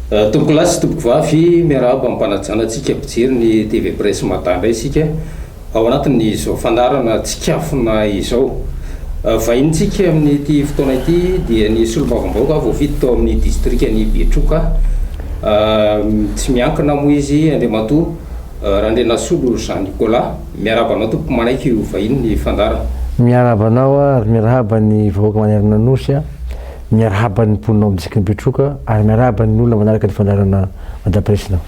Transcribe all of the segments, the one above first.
Tompokolahy sy tompokovavy miarahaba amim-panajana antsika mpijery ny TV Presse Mada indray isika ao anatin'izao fandaharana tsikafona izao. Vahinintsika amin'ity fotoana ity dia ny solombavambahoaka voafidy tao amin'ny distrikan'i Betroka tsy miankina moa izy Andriamatoa Randrianasolo Jean Nicolas. Miarahaba anao tompoko manaiky ho vahinin'ny fandaharana. Miarahaba anao ary miarahaba ny vahoaka manerana Nosy. Miarahaba ny mponinao amin'ny Distrikan'i Betroka ary miarahaba ny olona manaraka ny fandaharana Madame President.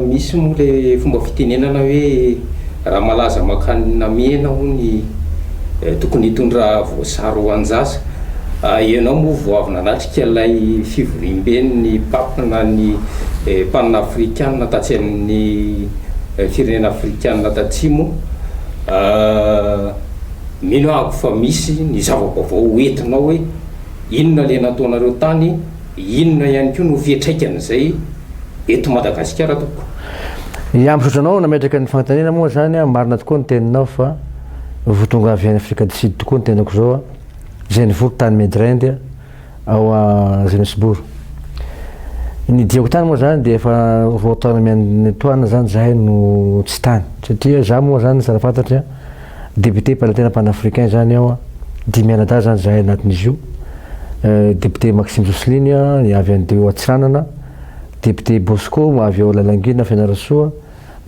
Misy moa le fomba fitenenana hoe raha malaza mankany namena hono tokony hitondra voasary ho anjasa. Ianao moa vao avy nanatrika ilay fivoriamben'ny Pape na ny panafrikana tatsy amin'ny firenena afrikana tatsimo. Mino aho fa misy ny zava-baovao ho entinao hoe inona ilay nataonareo tany, inona ihany koa no fiantraikan'izay eto Madagasikara tompoko. Ya misaotra anao nametraka ny fanontaniana moa zany aho marina tokoa ny teninao fa voatonga avy any afrika du sud tokoa ny tenako zao a, zay nivory tany medrinde a, ao Johannesburg. Ny diako tany moa izany dia efa roa taona miantoana izany izahay no tsy tany. Satria izaho moa izany tsara fantatra, député mpanantena panafricain izany aho, dimy mianadahy izany izahay anatin'izy io. Député Maxime Jocelyne avy an'ireo Antsiranana, député Bosco avy ao Lalangina Fianarantsoa,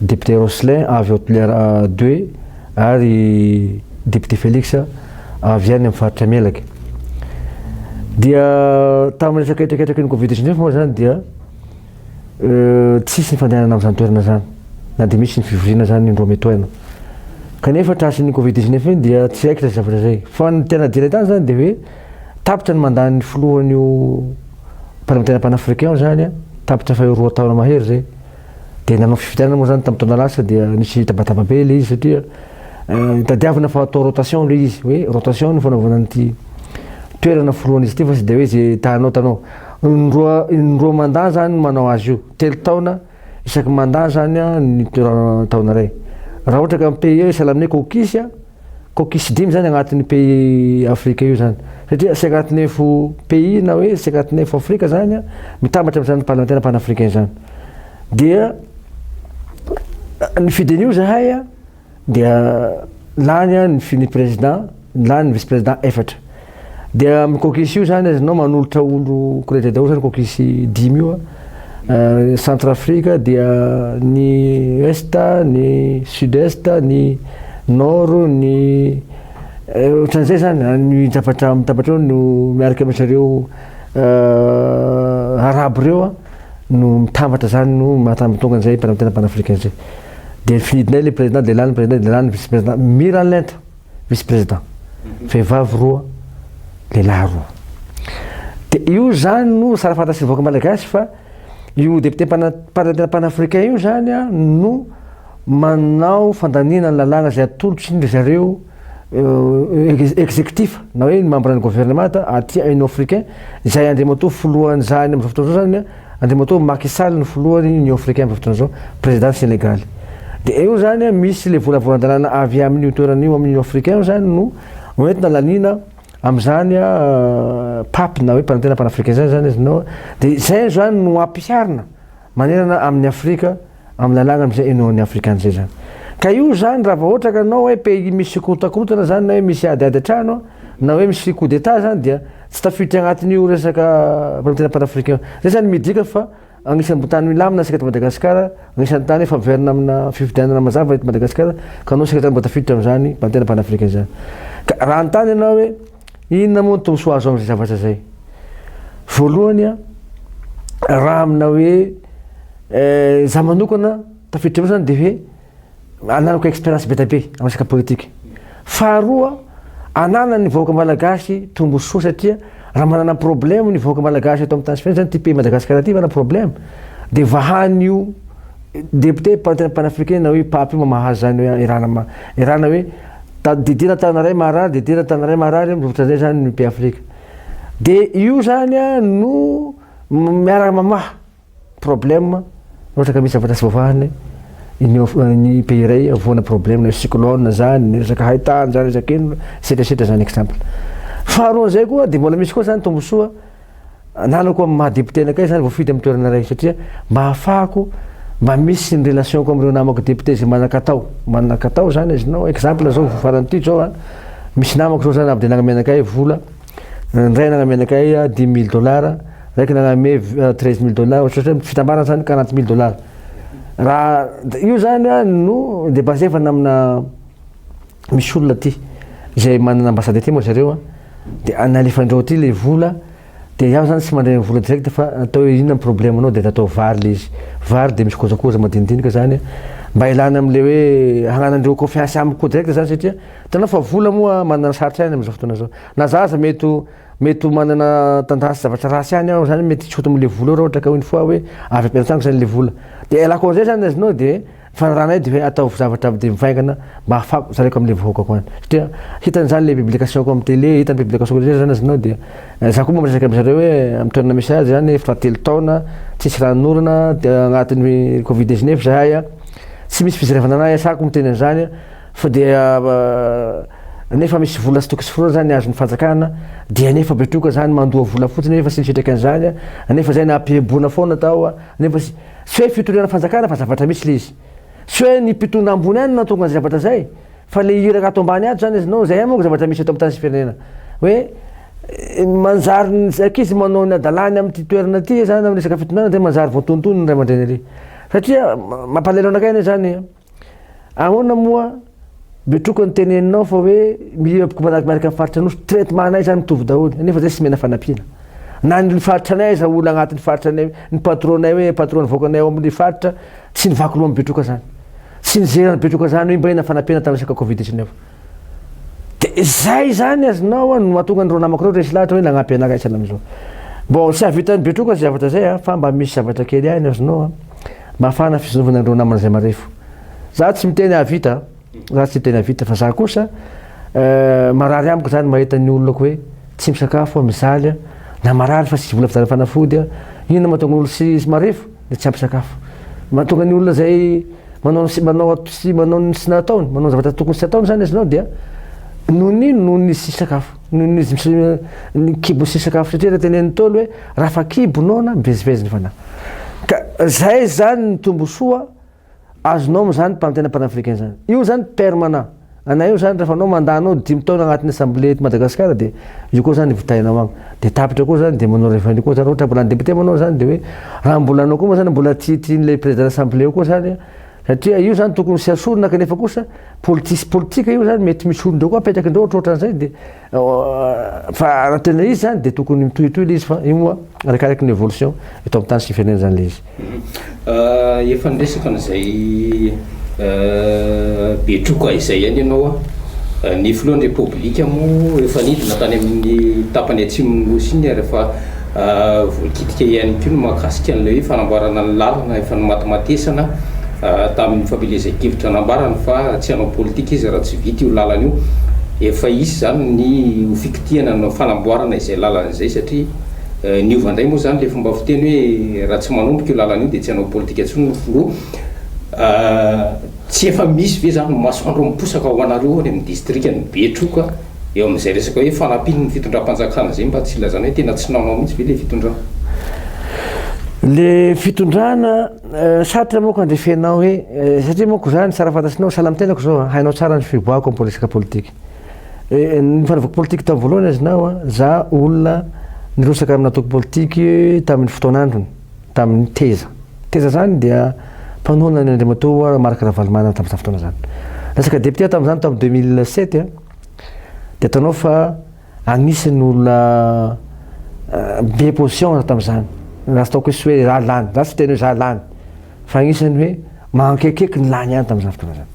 ny député Roslin avy ao Toliara ii ary député Felix avy any amin'ny faritra Melaky. Dia tamin'ny resaka hetraketraky ny Covid dix neuf moa izany dia tsisy ny fandehanana amin'izany toerana izany na dia misy ny fivoriana izany indroa mitoaina. Kanefa trasin'iny Covid dix neuf iny dia tsy haiko ilay zavatra izay. Fa ny tena adinay tany izany dia hoe tapitra ny mandat-n'ny filohan'io Parlemantera Panafricain io izany, tapitra faha roa taona mahery izay. Dia nanao fifidianana moa zany tamin'ny taona lasa dia nisy tabataba be ilay izy satria tadiavina fa atao rotation ilay izy hoe rotation no fanaovana an'ity toerana forohan'izy ity fa tsy dia hoe izay tanao tanao. Indroa indroa mandat zany no manao azy io, telo taona isaky mandat zany ny taona iray. Raha ohatra ka ny pays io sahala aminay caucus Cocus dimy zany agnatin'io pays afrika io zany satria c'est agnatin'ny info pays na hoe c'est agnatin'ny info afrika zany a mitambatra am'zany parlementaire panafricain zany dia nifidy an'io zahay a dia lany a ny fi- ny président lany ny vice président efatra Dia amin'ny cookies io zany ianao manolotra olo credit daholo zany cookies dimy io euh, centre afrique dia ny est ny sud est ny nord ny eh, ohatran'izay zany ah, ny tapatra amin'ny tapatra eo no miaraka amin'izy ireo euh, arabo ireo ah, no mitambatra zany no mahatambitonga an'izay mpanamtena panafricain izay dia finidinay le président dia lany président dia lany vice président mira lenta vice président vehivavy roa lehilahy roa dia io zany no sara fantatry ny vahoaka malagasy fa io député mpanantena panafricain io zany a no manao fandaniana ny lalàna izay atolotry ny zareo executif na hoe ny membre ny gouvernemanta aty union africain izay andriamatoa filohan'izany amin'izao fotoana izao zany a Andriamatoa Macky Sall no filohan'ny Union Africaine amin'izao fotoana izao, Prezidan'ny Senegaly. Dia eo izany an, misy ilay volavolan-dalàna avy amin'io toerana io amin'ny Union Africaine izany no hoentina laniana amin'izany an, Pape na hoe Mpanantena Panafricain izany izany izy no, dia izay izany no ampiharina manerana amin'ny Afrika. am lalàna am zay inoan'ny afrikana zay zany ka io zany raha vao ohatra ka anao hoe pays misy korontakorontana zany na hoe misy ady ady an-trano na hoe misy coup d'état zany dia tsy tafiditra agnatin'io resaka famitana panafricain zay zany midika fa agnisan'ny bo tany milamina isika eto madagasikara agnisan'ny tany efa verina amina fifidianana mazava eto madagasikara ka anao isika zany mba tafiditra am'zany bantena panafricain zany ka raha anontany ianao hoe Inona moa ny tombontsoa azo amin'izay zavatra izay? Voalohany, raha amina hoe za manokana tafiditra eo zany de hoe ananako expérience be dia be amin'ny resaka politika. Faharoa, ananan'ny vahoaka malagasy tombontsoa satria raha manana problème ny vahoaka malagasy eto amin'ny tany sy firenena zany ity pays Madagascar ity manana problème de vahan'io député panafricain na hoe pape io mamaha azy zany hoe erana ma- erana hoe Didiana tanana iray maharary, didiana tanana iray maharary, mivotra indray izany ny pays Afrika. Dia io izany no miaraka mamaha problème raha ohatra ka misy zavatra tsy voavahan'ny ny pays iray avoana problème na cyclone izany, ny resaka haitany izany, resaka inona, etcetera etcetera izany exemple. Faharoan'izay koa dia mbola misy koa izany tombontsoa ananako amin'ny maha député anakay zany voafidy amin'ny toerana iray satria mba hahafahako mba misy ny relationko amin'ireo namako député izay manan-katao manan-katao zany izy nao exemple zao farany ity zao a misy namako zao zany avy dia nagnome anakay vola ny iray nagnome anakay dimy mille dollars raiky nagnome treize mille dollars ohatrany hoe fitambarana zany quarante mille dollars raha io zany a no de basevana amina misy olona aty izay manana ambassade aty moa zareo a, dia nalefan'ireo aty ilay vola, dia izaho izany tsy mandray ny vola direct fa atao hoe inona ny problème anao dia natao vary ilay izy, vary dia misy kojakoja madinidinika izany mba ilana amin'ilay hoe hananan'ireo confiance amiko koa direct izany satria hitanao fa vola moa manana sarotra ihany amin'izao fotoana izao, na za aza mety ho mety ho manana tendance zavatra ratsy ihany aho izany mety tsy ho tonga amin'ilay vola eo raha ohatra ka une fois hoe avy am-pelantanako izany ilay vola, dia ialako an'izay izany azonao dia Fanarahanay dia hoe ataovy zavatra be mivaingana mba hahafahako mitsaraiko amin'ilay vahoakako any. Satria hitany izany ilay publication-ko amin'ny télé, hitany ny publication-ko rehetra izany azonao dia izaho koa mba miresaka amin'izy ireo hoe amin'ny toerana misy azy izany efa telo taona tsisy ranon'orana dia anatin'ny covid 19 izahay a, tsy misy fizerevana an'ahy iasako miteny an'izany fa dia nefa misy vola sy tokisy foronina izany azon'ny fanjakana dia nefa betroka izany mandoa vola fotsiny nefa tsy ny fiantraikan'izany a, nefa izay nampiheboana foana tao a, nefa tsy. Tsy hoe fitoriana fanjakana fa zavatra mihitsy le izy. Tsy hoe ny mpitondra ambony ihany no nahatonga an'izay zavatra izay fa le iraka ato ambany ato izany izy no izay ihany manko zavatra misy eto amin'ny tany sy firenena. Hoe manjary ny ankizy manao ny hadalany amin'ity toerana ity izany amin'ny resaka fitondrana dia manjary voatonontonin'ny ray aman-dreny ery. Satria mampalahelo anakay anie izany. Ahoana moa be troka ny teneninao fa hoe milieu aboko manaraka miaraka amin'ny faritra Anosy, traitement anay zany mitovy daholo nefa zay tsy mena fanampiana. Na ny faritra anay aza olona agnatin'ny faritra anay ny patronay hoe patron nivoaka anay ao amin'ny faritra tsy nivaky loha amin'ny be troka zany. Tsy nizeran'ny be troka zany hoe mba inona fanampiana tamin'ny resaka covid izy ireo. Dia izay izany azonao no mahatonga an'ireo namako ireo resy lahatra hoe nagnampy anay raisana amin'izao. Bon, tsy hahavitan'i Betroka izay zavatra izay fa mba misy zavatra kely hainy azonao mafana fizonovana an'ireo namana izay marefo. Za tsy miteny hahavita, za tsy miteny hahavita fa za kosa marary amiko izany mahita ny olona koa hoe tsy misakafo, mijaly, na marary fa tsisy vola vidiana fanafody, inona mahatonga ny olona tsy marefo? dia tsy ampy sakafo. Mahatonga ny olona izay manao ny sy manao sy manao ny sy nataony, manao zavatra tokony tsy ataony izany izy nao dia noho ny noho ny sy sakafo, noho ny izy ny kibo sy sakafo satria ilay tenenin'ny Ntaolo hoe raha fa kibo noana mivezivezy ny fanahy. Ka izay izany ny tombosoa azonao am zany mpanontena panafricain zany io zany permanent anay io zany refa anao mandat anao dimy taona agnatin'ny assemblée eto Madagascar de io koa zany vitainao agny de tapitra koa zany de manao revenu koa zany ohatra mbola député moa anao zany de hoe raha mbola anao koa moa zany mbola tsy tian'ilay président assemblée io koa zany satria io zany tokony tsy asorina kanefa kosa politis- politika io zany mety misy olon-dreo koa apetrakindreo ohatrohatran'izay de Fa raha tena izy zany dia tokony mitohitohy ilay izy fa io moa arakaraka ny evolution eto amin'ny tany sy ny firenena zany ilay izy. Mhm. Efa niresaka an'izay Betroka izay ihany ianao an. Ny filohan'ny Repoblika moa efa nidina tany amin'ny tapany atsimon'ny Nosy iny ary efa Voakitika ihany koa ny mahakasika an'ilay hoe fanamboarana ny lalana efa nimatimatesana tamin'ny fampielezan-kevitra nambarany fa tsy hanao politika izy raha tsy vita io lalana io. Efa hisy izany ny ho fikitihana ny fanamboarana izay lalana izay satria niova indray moa izany ilay fomba fiteny hoe raha tsy manomboka io lalana io dia tsy hanao politika intsony ny filoha. Tsy efa misy ve izany ny masoandro miposaka ho anareo any amin'ny distrikan'i Betroka? Eo amin'izay resaka hoe fanampiny ny fitondram-panjakana izay mba tsy ilazana hoe tena tsy nanao mihitsy ve ilay fitondrana? Ilay fitondrana, sarotra manko handresenao hoe, satria manko za ny tsara fantatrinao, sahala amin'ny tenako izao, hainao tsara ny fiboahako amin'ny resaka politika. Ny fanaovako politika tamin'ny voalohany azonao, za olona nirotsaka amin'ny antoko politika tamin'ny fotoan'androny. tamin'ny teza. Teza izany dia mpanohana ny Andriamatoa Marc Ravalomanana tamin'izany fotoana izany. Resaka député aho tamin'izany tamin'ny 2007 a, dia ataonao fa anisan'ny olona be position aho tamin'izany. Raha tsy ataoko hoe tsy hoe izaho lany, izaho tsy hiteny hoe izaho lany, fa anisan'ny hoe mankekieky ny lany ihany tamin'izany fotoana izany.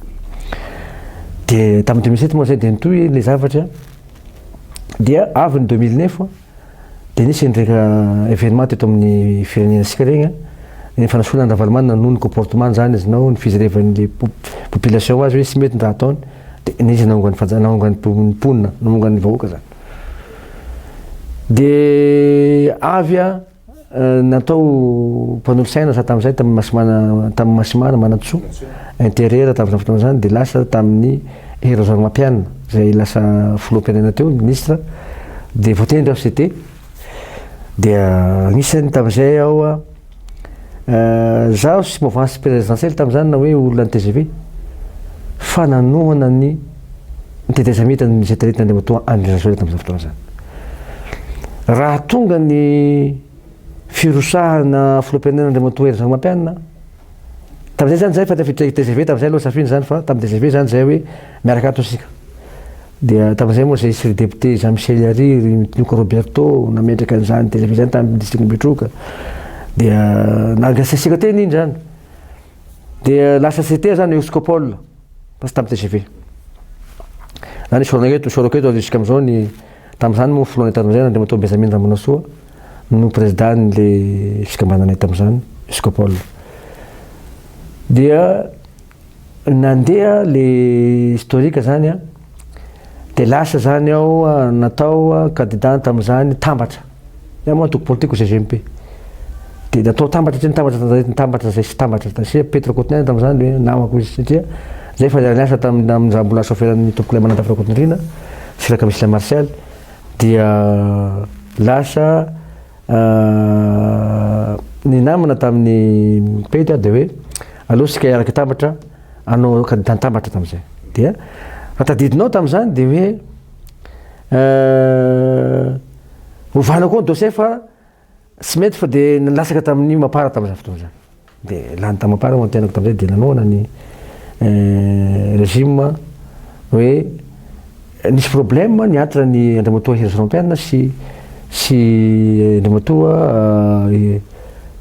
Dia tamin'ny 2007 moa izay dia nitohy ilay zavatra, dia avy ny 2009 a, Dia nisy indreka evenement teto amin'ny firenentsika regny an, ny fanasoana an'i Ravalomanana noho ny comportement zany izy nao ny fijerevan'ny population azy hoe tsy mety ny raha ataony dia nisy naongan'ny fanja naongan'ny mponina naongan'ny vahoaka zany. Dia avy an. Natao mpanolotsaina za tamin'izay tamin'ny Masimana tamin'ny Masimana Manantsoa interieur tamin'izany fotoana izany dia lasa tamin'ny Hery Rajaonarimampianina izay lasa filoham-pirenena teo, ministra, dia voatendry aho CT dia anisany tamin'izay aho zaho tsy mouvance présidentielle tamin'izany na hoe olona ny tgv fa nanohana ny ny tetezamitan' izay taritin' Andriamatoa Andry Rajoelina tamin' izany fotoana izany. Raha tonga ny firosahana filoham-pirenena Andriamatoa Hery Rajaonarimampianina, tamin'izay izany izay fa ny tafiditra i tgv tamin'izay aloha safiana izany fa tamin'ny tgv izany izay hoe miaraka ato isika. Dia tamin'izay moa izay sy ry depiote Jean Michel Yary, ry Mitinoka Roberto nametraka an'izany tgv izany tamin'ny distrikan' Betroka. Dia nangasisiaka teny iny izany. Dia lasa CTA izany, Euskopol. Poste am tgv. Na ny sorona eto, soroko eto ary jusque am zao ny, tam zany moa filohan'ny Tanindrazana Andriamatoa Benjamin Ramonasoa no president le fikambananay tam zany, Escopol. Dia nandeha le historique zany an. Dia lasa izany aho natao kandida tamin'izany tambatra. Izaho moa antoko politikiko GGMP. Dia natao tambatra tsy nitambatra tamin'izay nitambatra izay tsy tambatra satria Petr Rakotonirina tamin'izany dia hoe namako izy satria izahay efa niara-niasa tamin'ny amin'izany mbola chaufferan'ny tompokolay Manantafy Rakotonirina sy Rakamisilay Martial dia lasa ny namana tamin'ny Petr dia hoe aleo isika hiaraka hitambatra anao aoka nitantambatra tamin'izay. Dia raha tadidinao tamin'izany dia hoe hovana koa ny dossier fa tsy mety fa dia nilatsaka tamin'ny mampara tamin'izany fotoana izany. Dia lany tamin'ny mampara ho antenako tamin'izay dia nanohana ny regime hoe nisy problème ny entre ny Andriamatoa Hery Jean-Pierre sy sy Andriamatoa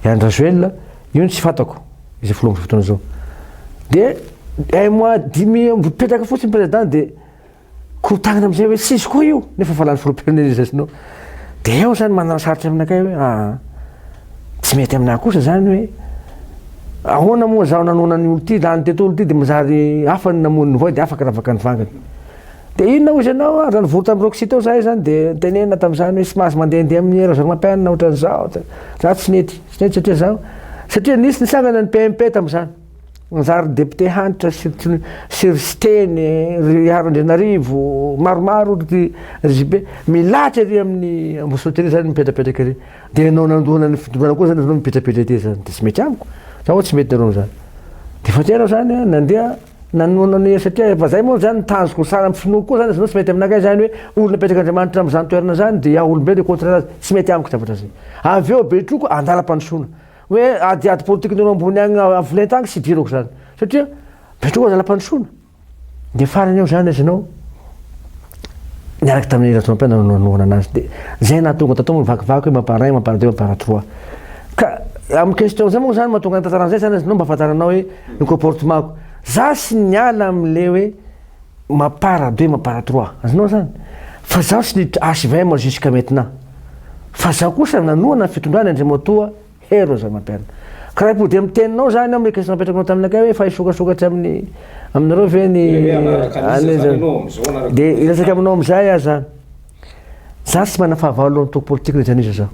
Henry Rajoel Io no tsy fantako izao fotoana fotoana izao. Dia un mois dimy eo mipetraka fotsiny président dia korotanina amin'izay hoe tsisy koa io nefa efa lany filoham-pirenena izy sinoa. Dia eo izany manana sarotra aminakay hoe ah tsy mety aminà kosa izany hoe ahoana moa izaho nanoana ny olo-ty, lany teto olo-ty dia manjary hafa ny namono ny voay dia afaka ravaka ny vangany. Dia inona hoy izy ianao ah, raha nivory tamin'i Roxy tao izahay izany dia tenenina tamin'izany hoe tsy mahazo mandehandeha amin'ny Rajaorimampianina ohatran'izao, za tsy mety. Zay tsy hatrezaho an! Satria nisy nisangana ny PMP tamin'izany. Nanjary député Hanitra sy sy ry Siteny, ry Iharo Andrianarivo, maromaro ry ry JB. Milahatra ery amin'ny Ambositra ery zany mipetrapetraka ery. Dia ianao nandona ny fitondrana koa zany ianao mipetrapetra ety zany. Dia tsy mety amiko. Zany hoe tsy mety nareo amin'izany. Dia efa tena zany an, nandeha. Nanohana an'io satria efa zay moa zany tanjoko ny saran'ny finoako koa zany izy ireo tsy mety aminakay zany hoe olona apetrak'Andriamanitra amin'izany toerana zany dia aho olombelona au contraire azy tsy mety amiko zavatra zay. Avy eo be troko andalam-pandrosoana hoe adiady politikin'olo ambony agny avo lenta agny tsy idirako zany satria be troko andalam-pandrosoana dia farany eo zany izy nao niaraka tamin'i Rajaompia nanao nanohana anazy dia izay nahatonga tato amin'ny vakivaky hoe mampara un, mampara deux, mampara trois. Ka amin'ny question izay moa izany mahatonga ny tantarana izay izany izy, nao mba fantaranao hoe ny comportement-ko. Za sy niala amin'ilay hoe mampara deux, mampara trois, azonao izany? Fa zaho sy ny HVM jusqu'à maintenant. Fa zaho kosa nanohana ny fitondrana Andriamatoa. Hery Rozamaperina. Kiraim-podi'e amin'ny teninao izany aho meka tsy napetrakao taminakay hoe efa hisokasokatsy amin'ny aminareo ve ny dia hiresaka aminao amin'izay aho izany. Izaho tsy manana fahavalo antoko politiko na iza na iza izaho.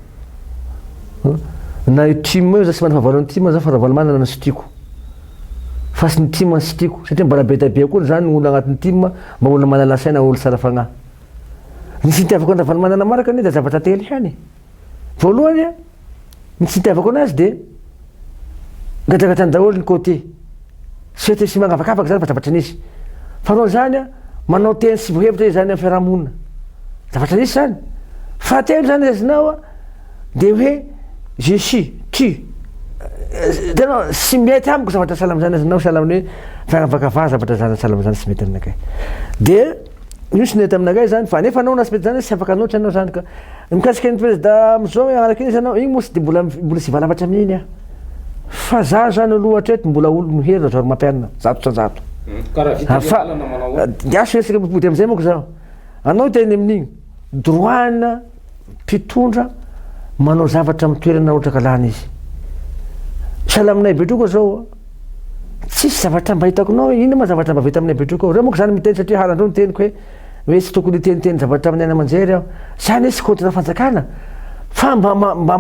Na io tim io izaho tsy manana fahavalo ny tim izaho fa Ravalomanana no tsy tiako. Fa tsy ny tim no tsy tiako satria mbola be dia be koa izany ny olona anatin'ny tim mba olona manala saina, olona tsara fanahy. Ny tsy nitiavako an'i Ravalomanana manaraka anie dia zavatra telo ihany e. Voalohany, ny tsy itiavako anazy dia gadragadrany daholo ny côté. Tsy mety misy mangavakavaka zany fa zavatra nisy. Faharoa zany, manao teny tsy voahevitra izy zany amin'ny fiarahamonina. Zavatra nisy zany. Fahatelo zany raisina-o dia hoe je suis, tu. Tena tsy mety amiko zavatra sahala amin'izany raisina-o sahala amin'ny hoe fiaravakavaha zavatra zany sahala amin'izany tsy mety aminakay. Dia. Nisy nety aminareo izany fa nefa anao naspety izany hoe tsy afaka loatra ianao izany ka. Ny mikasika an'i prezida amin'izao hoe hanala crise ianao, iny moa tsy dia mbola mbola tsy hivalapatra amin'iny aho. Fa za izany aloha hatreto mbola olon'ny hery rajoel mampainina zato tra zato. Ka raha vita ny lalana manao ahoana? Dia azo resaka mipody amin'izay manko izaho. Anao hiteny amin'iny. Droit-na. mpitondra manao zavatra amin'ny toerana rotraka lany izy. Sahala aminay Betroka zao, tsisy zavatra mba hitako nao, inona ma zavatra mba vita aminay Betroka ao. Reo moko zany miteny satria halandreo ny teniko hoe hoe tsy tokony hiteniteny zavatra amin'ny aina aman-jery aho. Zany hoe tsy kaontina fanjakana fa mba mba mba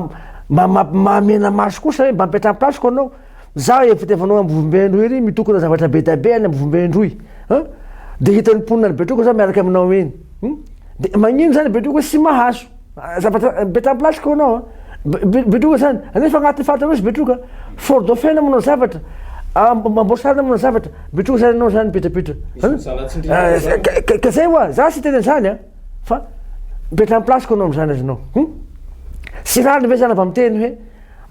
mba mba mahamenamaso kosa hoe mba mipetra am-plasiko anao. Za efa fiteny fanao ambovombe androy ery mitokona zavatra be dia be any ambovombe androy a de hitan'ny mponina any betroka za miaraka aminao eny hum de magnino zany betroka sy mahaso zavatra mettre en place ko anao a betroka zany anefa agnaty faritra nosy betroka fort dauphin na manao zavatra amboasary na manao zavatra betroka zany anao zany mipetrapitra a ka zay oa za sy hiteny an'zany a fa mettre en place ko anao am'zany azonao hum sy rariny ve zany vao miteny hoe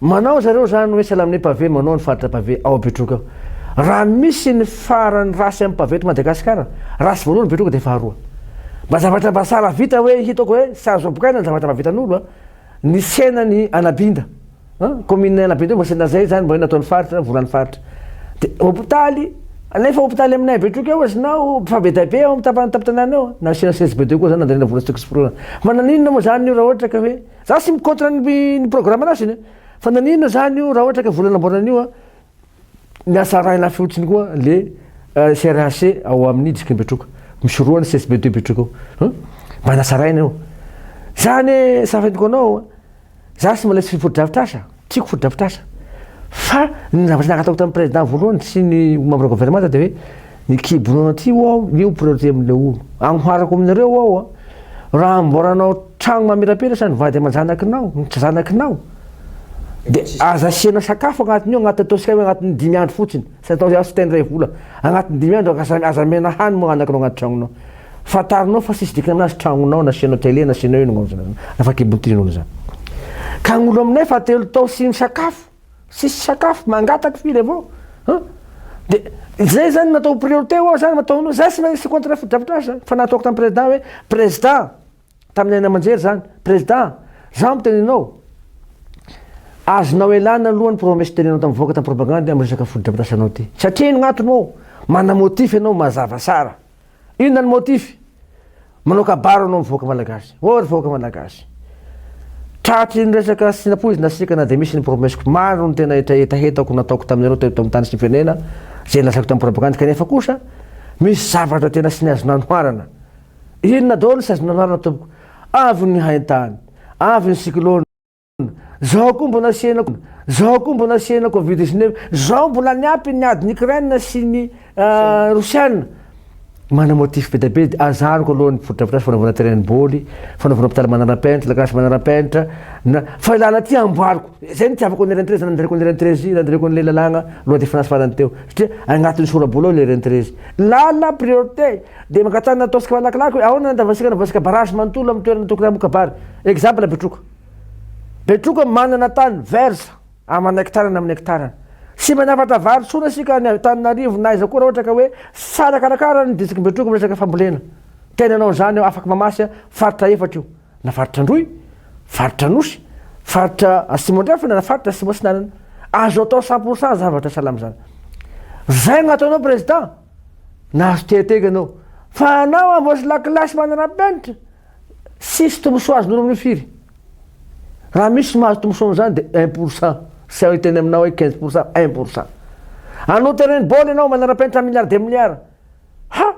Manao zareo izany hoe Salamine Pavé manao ny faritra Pavé ao Betroka ao. Raha misy ny faran'ny race amin'ny Pavé eto Madagasikara, race voalohany Betroka dia faharoa. Mba zavatra mba sahala vita hoe hitako hoe tsy azo ampokaina ny zavatra mba vitan'olo a! Ny tsenan'i Anabinda a! Commune Anabinda io mba tsena izay izany mba hoe nataon'ny faritra, volan'ny faritra. Dia hopitaly, nefa hopitaly aminay Betroka eo aza na fa be dia be ao amin'ny tapany tampon-tanàna eo a! Nasiana CSBD koa izany nandanina vola tsy tokony tsy foronana. Fa naninona moa izany io raha ohatra ka hoe. Za tsy mi contre ny ny programme nazy ny fa naninona zany io raha ohatra ka vola namboarana an'io an ny asa arahina fotsiny koa le CRHC ao amin'ny distrikan'i Betroka misy roa ny CSBD eo Betroka eo an mba nasarahina io za anie safidiko anao an za tsy mba ilay tsy fotodrafitrasa. Tiako fotodrafitrasa. Fa ny zavatra nangataoko tamin'ny président voalohany sy ny membre gouvernemanta dia hoe ny kibo nono aty ho'a aho io priorité amin'ilay olo. Agnoharako aminareo aho a! Raha amboaranao tragno mamirapiratra ny vady aman-janakinao, ny tsy zanakinao, dia aza asiana sakafo agnatin'io, agnatin'ny ataontsika hoe agnatin'ny dimy andro fotsiny, tsy atao hoe aho tsy te handray vola, agnatin'ny dimy andro aza aza amena hany moa anaknao agnaty tragnonao. Fantarinao fa tsisy dikany azy tragnonao nasianao tele nasianao io nagnonjona anao nafa kibon'ny trin'olo zany ka agnolo aminay fa telo tao tsy misakafo tsisy sakafo mangataka firy avao ha de zay zany natao priorité oa zany mataonao zay tsy maintsy contre fotodrafitrasa zany fa nataoko tam président hoe président tamin'ny haino aman-jery zany président zaho miteny anao azonao elana aloha ny promesse tenenao tam vahoaka tam propagande am resaka fotodrafitrasanao ty satria ino gn'antony moa mana motif ianao mazava sara Inona ny motif? Manao kabary anao amin'ny vahoaka malagasy. Ô ry vahoaka malagasy. Tratry ny resaka sy nampoizina sikana dia misy ny promesse-ko maro ny tena hetahetahetako nataoko taminareo teto amin'ny tany sy ny firenena, izay nolazaiko tamin'ny propagandy kanefa kosa misy zavatra tena sy ny azo nanoharana. Inona daholo ny sazy nanoharana tompoko? Avy ny haintany, avy ny cyclone. Zao koa mbola sena zao koa mbola sena covid 19 zao mbola niampy ny adiny Ukraine sy ny euh, Rosiana mana motif be dia be dia azariko aloha ny fotodrafitrasa fanaovana terrain boly fanaovana hôpital manarapenitra lakilasy manarapenitra na fa ilana ty amboariko zay nitiavako ny rentrée zany nandraiko ny rentrée zy nandraiko an'ilay lalàgna loi de finance farany teo satria agnatin'ny sorabola ao ilay rentrée zy lala priorité dia mangatana ataontsika malakilaky hoe ahoana ny andavasika anavasika barrage manontolo amin'ny toerana tokony hamoka bary exemple bitroka Betroka manana tany vert amana hektarany aminy hektarany. Tsy manafatra vary tsona isika any Antananarivo na aiza koa raha ohatra ka hoe tsy tsara karakara ny distriky Betroka amin'ny resaka fambolena. Tena hanao an'izany aho afaka mamasy aho faritra efatra io na faritra Androy, faritra Anosy, faritra Atsimo Andrefana na faritra Atsimo Atsinanana. Azo atao cent pour cent zavatra salama izany. Izay no ataonao président. Nahazo tehateka ianao. Fa anao amboasy lakilasy manana penitra. Tsisy tombosoa azonareo amin'io firy? Raha misy mahazo tombosoa amin'izany dia un pour cent, tsy hay hiteny aminao hoe quinze pour cent, un pour cent. Hanao terrain ball ianao manara-penitra milliards des milliards. Ha!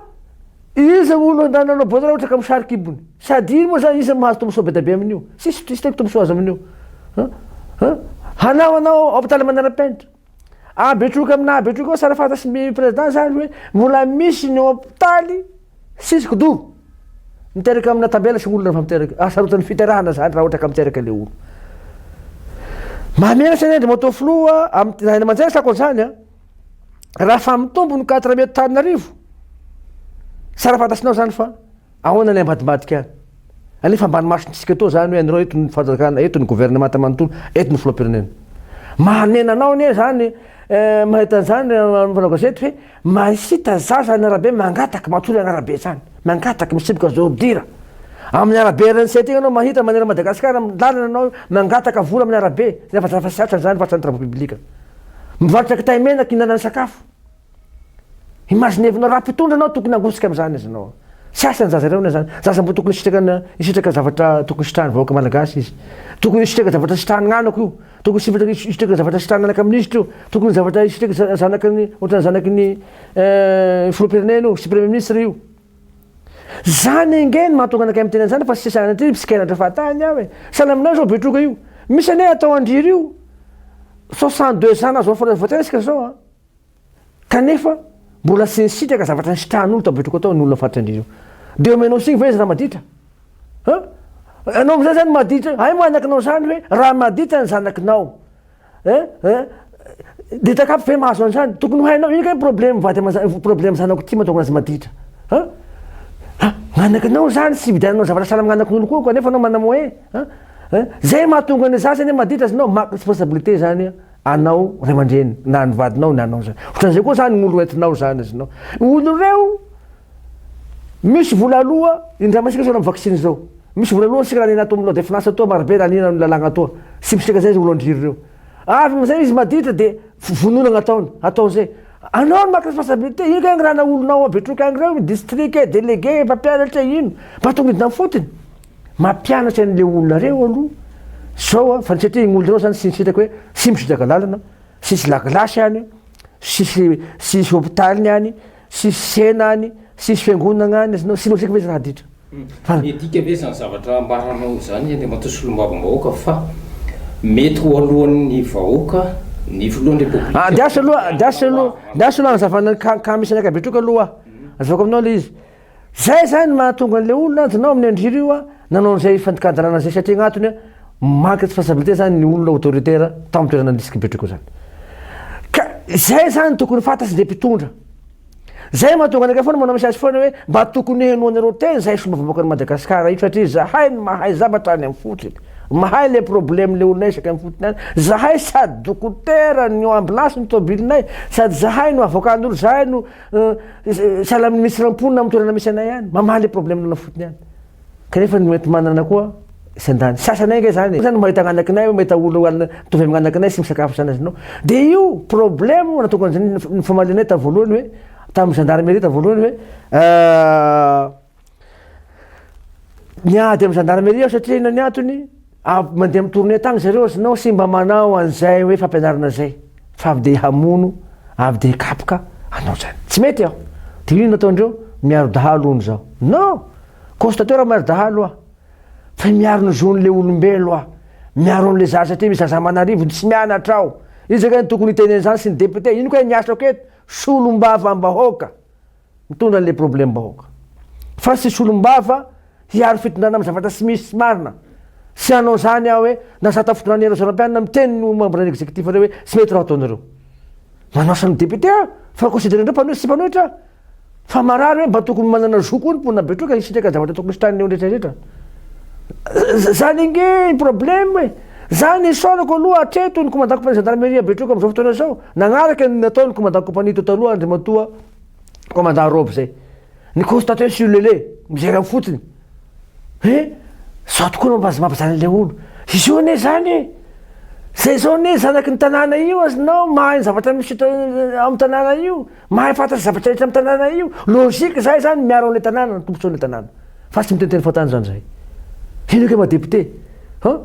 Iza moa no andaniny hanao ball raha ohatra ka mosary kibony? Sady iny moa izany iza no mahazo tombosoa be dia be amin'io? Tsisy, tsisy tena tombosoa azo amin'io. Hanao anao hopitaly manara-penitra. Ahabetroka amina ahabetroka ao sary fantasy ny président zany hoe mbola misy ny hopitaly sisy kidoha miteraka amina tabela sy olona fa miteraka asarotan'ny fiterahana zany raha ohatra ka miteraka le olo mamela sy nendry moto filoha amin'ny ray aman-dreny sako an'izany a raha fa mitombo ny quatre mètre taninarivo sary fantasinao zany fa Ahoana ilay ambadimbadika any? Anefa ambany masontsika etoa izany hoe anreo eto ny fanjakana, eto ny governemanta manontolo, eto ny filoham-pirenena. Mahanena anao anie izany eh, mahita an'izany eh, amin'ny mpanao gazety hoe mahita zaza any arabe mangataka matory any arabe izany, mangataka misiboka zordira. Amin'ny arabe RNC aty ianao mahita maneran'i Madagasikara amin'ny lalana anao mangataka vola amin'ny arabe, nefa zafa siatra izany, vatsany travaux publics. Mivarotra kitay mena, kihinanana sakafo. Imaginevinao raha mpitondra anao tokony hangotsika amzany izy anao. Tsy asany zaza ireo na zany. Zaza mbo tokony hisitraka hisitraka zavatra tokony hisitrahan'ny vahoaka malagasy izy. Tokony hisitraka zavatra hisitrahan'ny anako io. Tokony hisitraka hisitraka zavatra hisitrahan'ny anaka minisitra io. Tokony zavatra hisitraka zanaky ny ohatran'ny zanaky ny filoham-pirenena io sy premier ministre io. Zany ange no mahatonga anakay miteny anzany fa tsy sanatria mpitsikera andra fahatany aho e. Sahala aminao zao betroka io. Misy anie atao an-dry io. Soixante deux ans anao zao fa voatery resaka zao an. kanefa mbola tsy nisitraka zavatra nisitrahan'olo tao Betrokao tao ny olona faritra indrindra io. Dia omenao signe ve izy raha maditra? An? Ianao amin'izay izany maditra, hay manakinao izany hoe raha maditra ny zanakinao, an? An? Dia takapy ve mahazo an'izany? Tokony ho hainao, ino kay ny problème vady aman-janako, problème zanako ity mahatonga azy maditra? An? An? Manakinao izany, tsy hividiananao zavatra sahala amin'ny anankin'olo koa, kanefa ianao manana moyen, an? An? Izay mahatonga ny zaza anie maditra, azonao maka responsabilité izany an! anao ray aman-dreny na an'ny vadinao na anao zany otran'izay koa zany gn'olo entinao zany azinao olo reo misy vola aloha indramasika zao na vaksiny zao misy vola aloha sika nanena ato milode finance atoa marobe nanena ny lalagna atoa sipisika zay olo andriry reo avy amizay izy maditra de vonona gnataony atao zay anao ny maka responsabilité ino kay ngran'olonao abetroky agny reo district e délégué mpampianatra ino mba atao midina fotiny Mampianatra anle olona reo aloha zao a, fa ny satria igny olona reo zany tsy nisitraka hoe tsy misitraka lalana, tsisy lagilasy any, tsisy tsisy hopitaly any, tsisy tsena any, tsisy fiangonagna any, azonao tsy logique ve zany adidra? Fa. Midika ve zany zavatra ambaranao zany Andriamatoa Solombavambahoaka fa mety ho alohan'ny vahoaka ny filohan'ny repoblika? Andeaso aloha, andeaso aloha, andeaso aloha hanazavana ny cas cas misy anakahy Betroka aloha a, azavaiko aminao le izy. Zay zany ny mahatonga an'ilay olona an, dinao amin'ny andry rio an, nanao an'izay fandikan-dalàna zay satria agnatony an, manque de responsabilité zany ny olona autoritaire tao amin'ny toerana nisy kibetriko zany. Ka zay zany tokony fantatry le mpitondra. Zay mahatonga anakay foana manao message foana hoe mba tokony henoanareo tena zay fomba vahoakan'i Madagascar io satria zahay no mahay zavatra any amin'ny fotony. Mahay le problème le olonay isaky ny fotony any. Zahay sady dokotera ny ambulance ny tobilinay sady zahay no avokan'olo zahay no Salany misy rampon am toerana misy anay any mamaha le problème nao fotony any kanefa ny enti manana koa tsy andany sasany enga zany e zany mahita ananakinay hoe mahita olo an mitovy am ananakinay tsy misakafo zanazy nao de io problème natokana zany ny famalianay tam voalohany hoe tam gendarmerie tam voalohany hoe Niady amin'ny zandarmeria aho satria inona ny antony? mandeha amin'ny tournée tany zareo ozy nao sy mba manao an'izay hoe fampianarana izay fa avy dia hamono avy dia hikapoka anao zany tsy mety aho de inona ataondreo miaro dahalo hono zaho non constatateur miaro dahalo aho fa miaro ny zon'le olombelo aho miaro an'le zaza satria misy zaza aman'arivony tsy mianatra aho iza kay ny tokony hitenena izany sy ny député ino kay ny asako eto solombavam-bahoaka Mitondra anle problème bahoaka fa tsy solombava hiaro fitondrana am zavatra tsy misy marina tsy hanao zany aho hoe na za tafiditra any rajaonah mpianina miteny ny membre ny executif reo hoe tsy mety raha ataonareo manasa ny député aho fa considere ndreo mpanohy sy tsy mpanohitra aho fa marary hoe mba tokony manana zo koa ny mponina betroka hisitraka zavatra tokony hisitrahany eo rehetra rehetra zany ange ny problème e zany isaorako aloha hatreto ny komandant kompania gendarmerie betroka amzao fotoana zao nagnaraka ny nataony komandant kompania teto aloha andrimatoa Commandant robe zay. Ny constater sur le lait, mijery am fotsiny. He, zao tokoa no mahazo mavazana an'ilay olo. Izao anie zany e! Zay zao anie zanaky ny tanàna io az nao mahay ny zavatra misy eto am tanàna io, mahay fantatra ny zavatra rehetra am tanàna io. Logique zay zany miaro an'ilay tanàna ny tombotsoan'ilay tanàna. Fa tsy miteniteny fontany zany zay. Hino ke maha député. An!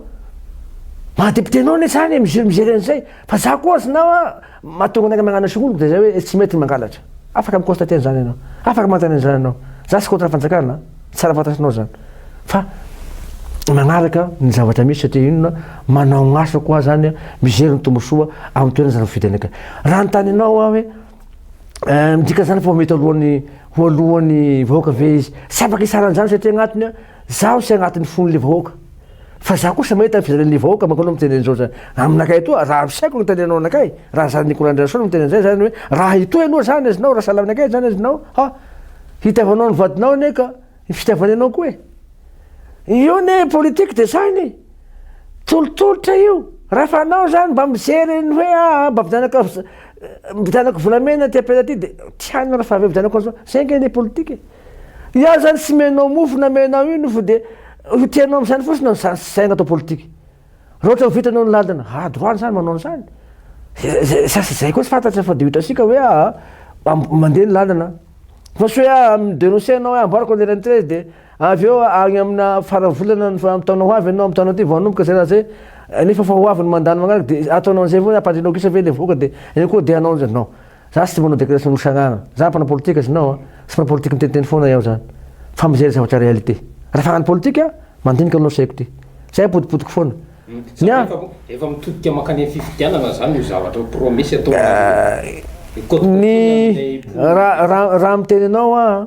Maha député anao anie zany e, mijery an'izay. Fa za koa az nao an! Mahatonga anay mañana sokolo dia izay hoe tsy mety ny mangalatra. Afaka mi-constater an'izany ianao. Afaka manontany an'izany ianao. Za tsy contre ny fanjakana an. Tsara fantatrinao izany. Fa mañaraka ny zavatra misy satria inona, manao ny asako aho izany, mijery ny tombosoa amin'ny toerana izany voafidy anay. Raha anontany anao aho hoe midika an'izany fa ho mety alohan'ny ho alohan'ny vahoaka ve izy? Tsy afaka hisara an'izany satria agnatiny an, zaho sy agnatiny fon'ilay vahoaka. Fa za kosa mahita ny fijalian'ny vahoaka manko anao miteny an'izao zany aminakay etoa raha ampisaiko ny tenenao anakay raha zany Nicolas Andrianasolo miteny an'izay zany hoe raha etoa ianao zany azinao raha sahala aminakay zany azinao ha hitiavanao ny vadinao anie ka ny fitiavany anao koa e io anie politique de zany e tolotolotra io rafa anao zany mba mijery ny hoe aa mba vidanaka vidanako volamena ty apela ty de tianao rafa avy eo vidanako an'izao zay nge anie politique e Io ary zany tsy menao mofo na menao ino fa dia io tianao amin'izany fotsiny no zany saina atao politika. Raha ohatra vitanao ny lalana, ah droit an'izany manao an'izany. Zay sasy izay koa tsy fantatra fa dia hitantsika hoe ah mandeha ny lalana. Fa tsy hoe ah mi-denoncer anao hoe amboariko an-dry Rainitrezy dia avy eo agny amina faran'ny volana ny amin'ny taona ho avy ianao amin'ny taona ity vao hanomboka izay raha izay nefa efa ho avy ny mandat-nao manaraka dia ataonao an'izay ve hoe ampandrianao gisa ve ilay vahoaka dia eo koa dia hanao an'izay non. Za tsy manao declaration Rosagnana. Za mpanao politika znao a. Tsy mpanao politika miteniteny foana iao zany. Fa mijery zavatra réalité. Ra faran'ny politika, mandinika anao saiko ty. Zay apodipodiko foana. Ny ahy. Efa mitodika mankany amin'ny fifidianana zany io zavatra io, promesse ataonareo io. Ny ra ra ra miteny anao aho a.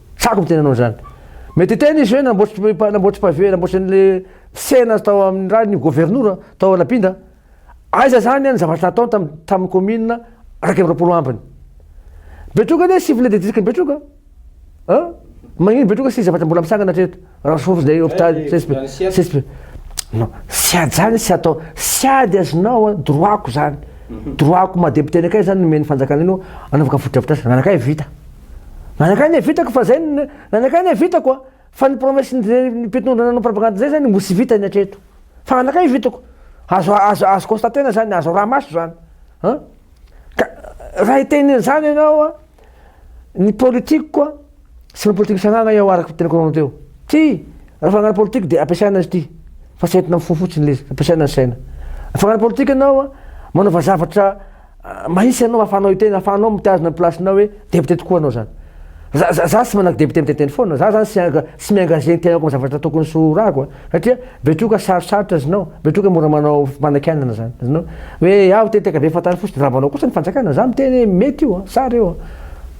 Tsako miteny anao zany. Mety hiteny izy hoe namboatry namboatry pavé namboatry an'le tsena tao amin'ny raha ny governora tao Anapinda. Aiza zany an ny zavatra nataony tam tamin'ny commune iraika amby roapolo ambiny. Betroka anie sivile de district ny Betroka a! Magnino Betroka sisa zavatra mbola mitsangana hatreto. Raha soa izay hôpital CSP non tsy ady zany tsy atao tsy ady azonao a droit-ko zany mhm. droit-ko maha député anakay zany nomen'ny fanjakana anao anaovaka fotodrafitrasa nanakay vita nanakay ne vitako fa zay nanakay ne vitako a fa ny promesse ny mpitondrana nanao propagande zay zany mbo tsy vita ny hatreto fa nanakay vitako azo azo azo constater-na zany azo raha maso zany an ka raha hitenen'zany ianao a ny politique-ko a Tsy manao politika fitsarana aho araka ny teneniko anareo teo. Tsia! Raha fanagana politika dia ampiasaina izy ity fa tsy entina amin'ny fo fotsiny ilay izy, ampiasaina ny saina. Afanana politika ianao an, manaova zavatra mahitsy ianao ahafahanao hiteny, ahafahanao mitazona ny place-nao hoe député tokoa ianao zany. Za za za tsy manaky député miteniteny foana, za zany tsy tsy mi-engager ny tenako amin'ny zavatra tokony tsy ho rako an. Satria betroka sarosarotra znao, betroka mora manao fanakianana zany znao hoe aho te tekabe fantaro fosiny raha manao kosa ny fanjakana za miteny hoe mety io an sa reo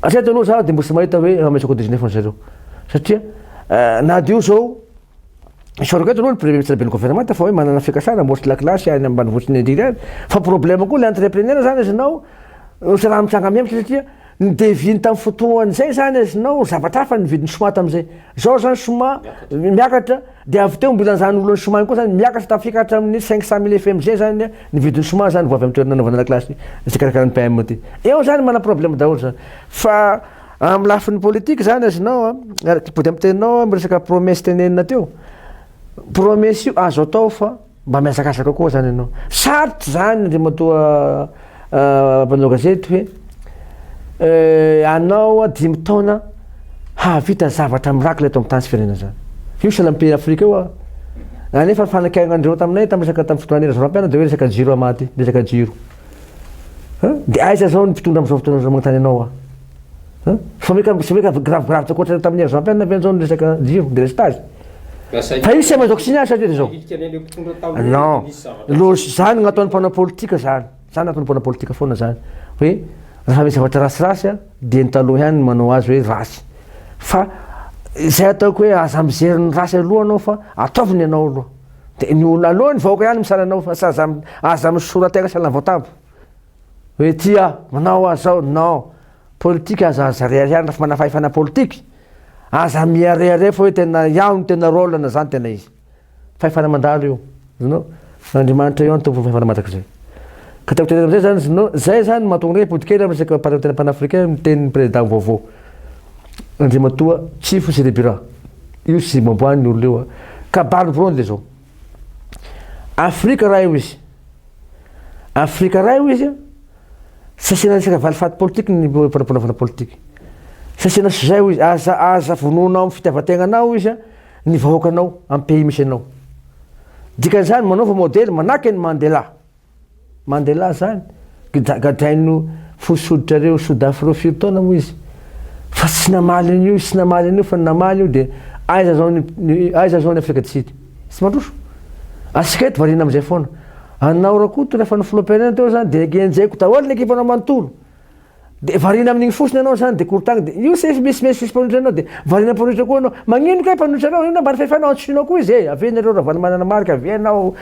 an atreto aloha za de mbola tsy mahita hoe mametraka au 19 ny zareo satria na de io zao Isaorako eto aloha ny premier ministre ben'ny governemanta fa hoe manana fikasana mbola tsy lakilasy any ambanivohitra indrindra any fa problème koa le entrepreneur zany znao tsy raha mitranga mihamitraka satria Ny devis-ny tamin'ny fotoan'izay izany azonao, zavatra hafa ny vidin'ny choma tamin'izay. Izao izany choma miakatra, dia avy teo mbola izany olan'ny choma ihany koa izany miakatra tafika hatramin'ny cinq cent mille fm izay izany ny vidin'ny choma izany vao avy amin'ny toerana anaovana lakilasy izay karakarain'ny PM ity. Eo izany manana problème daholo izany. Fa amin'ny lafiny politique izany azonao, ary mody amin'ny teninao aho miresaka promesse tenenina teo, promesse io azo atao fa. Mba mihazakazaka koa zany ianao. Sarotra zany Andriamatoa mpanao gazety hoe anao dimy taona hahavita zavatra miracle eto amin'ny tany sy firenena zany. Io sahala amin'ny pays Afrika io a. Anefa ny fanakainandreo taminay tamin'ny resaka tamin'ny fotoana Andry Rajoelina dia hoe resaka jiro hamaty, resaka jiro. Dia aiza zao ny mpitondra amin'izao fotoana izao manontany anao aho. Fa meka tsy meka gravigrave tsy ankoatra tamin'ny ère Jean-Pierre ve zao ny resaka jiro, délestage? Fa izy tsy mahay mandoa signal sa ve zao? Non, logique zany no ataon'ny mpanao politika zany, zany no ataon'ny mpanao politika foana zany hoe raha misy zavatra rasirasy dia ny taloha ihany no manao azy hoe ratsy fa izay ataoko hoe aza mijery ny ratsy aloha anao fa ataovy ny anao aloha, dia ny olona aloha ny vahoaka ihany misala anao fa aza aza misora tegna sahala ny voatambo. Hoe tia manao azy zao non. Politika aza aza rehareha raha fa manana fahefana politika. Aza miharehareha fa hoe tena ianao no tena rôle na zany tena izy. Fahefana mandalo io. Zino, Andriamanitra ianao no tompon'ny fahefana mandrakizay. Ka tiako tenenina amizay zany zino, zay zany no mahatonga anay mipody kely am resaka parentena panafricain ny tenin'ny président vaovao Andriamatoa Tsifo Siribira. Io tsy moamboan'ny olona io an. Kabary mivory zao. Afrika raha eo izy. Afrika raha eo izy, tsy asiana resaka valifaty politika ny mpanapanaovana politika. Tsy asiana izay io izy, aza aza vonoina amin'ny fitiavan-tegnanao izy ny vahoakanao, amin'ny pays misy anao. Dikan'izany manaova modely manahaka an'i Mandela. Mandela zany, gadraino fo soditrareo sodafreo firy taona moa izy fa tsy namaly an'io tsy namaly an'io fa ny namaly io dia aiza zao ny aiza zao ny afrika du sud tsy mandroso antsika eto variana amizay foana anao rakoto rehefa ny filoham-pirenena teo zany dia genjeko daholo ny ekipanao manontolo Dia variana amin'igny fotsiny ianao zany dia korontagny dia io sefo misy misy misy mpanohitra anao dia variana mpanohitra koa anao magnino kay mpanohitra anao inona ambany fahefanao antsoinao koa izy e avy eo nareo Ravalomanana Marc avy eo ianao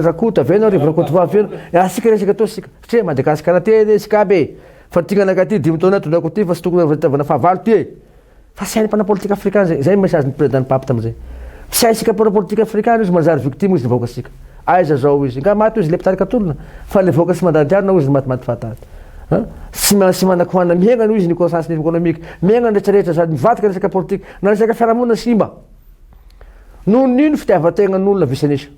Rakoto avy eo ianao Rivo Rakotovao avy eo ianao asika resaka atoa sika satria Madagasikara ty anie isika aby e fa ty gnanakahy ty dimy taona tondrako ty fa tsy tokony ho fitiavana fahavalo ty e Fa sahin'ny mpanao politika afrikana zay, zay message ny président ny pape tamzay. Tsy haisika mpanao politika afrikana izy manjary victime izy ny vahoakasika. Aiza zao izy, nga maty ozy le mpitarika tolona, fa le vahoaka tsy mandany diarna ozy ny matimaty fahatany. An, tsy tsy manan kohanina miaigna aloha izy ny conscience ny économique, miaigna ny rehetra rehetra zany, mivadika ny resaka politika, na resaka fiarahamonina simba. Nohon'ino fitiavantegna ny olona vice nisa.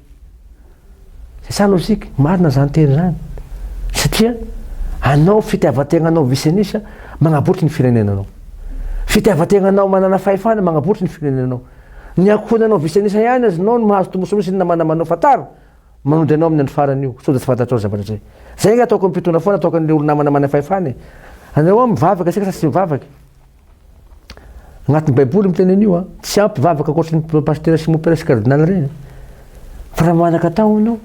C'est ça logique, marina zany teny zany satria anao fitiavantegnanao visenis magnabotry ny firenenanao, fitiavantegnanao manana fahefana magnabotry ny firenenanao, ny ankohonanao visenis ihany aza nao no mahazo tombotsoa misy ny namana manao fantaro manody anao amin'ny andro farany io sao dia tsy fantatrao ny zavatra zay, zay nga ataoko ny mpitondra foana ataoko an'le olo namana manana fahefana e, anareo mivavaka asika sa tsy mivavaka e. Agnatin'ny baiboly miteny an'io a. Tsy ampy vavaka ankoatry ny pasitera sy mopera sy kardinaly ireny. Fa raha manan-katao ianao,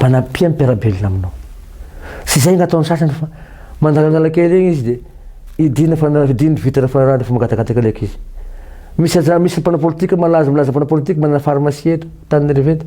manampia ny mpiara-belona aminao. Tsy izay no ataon'ny sasany fa mandalandala kely egny izy dia hidiana fa na hidiany ny vitre fa rariny fa mangatakataka leka izy. Misy aza misy mpanao politika malaza milaza mpanao politika manana pharmacie eto Antananarivo eto.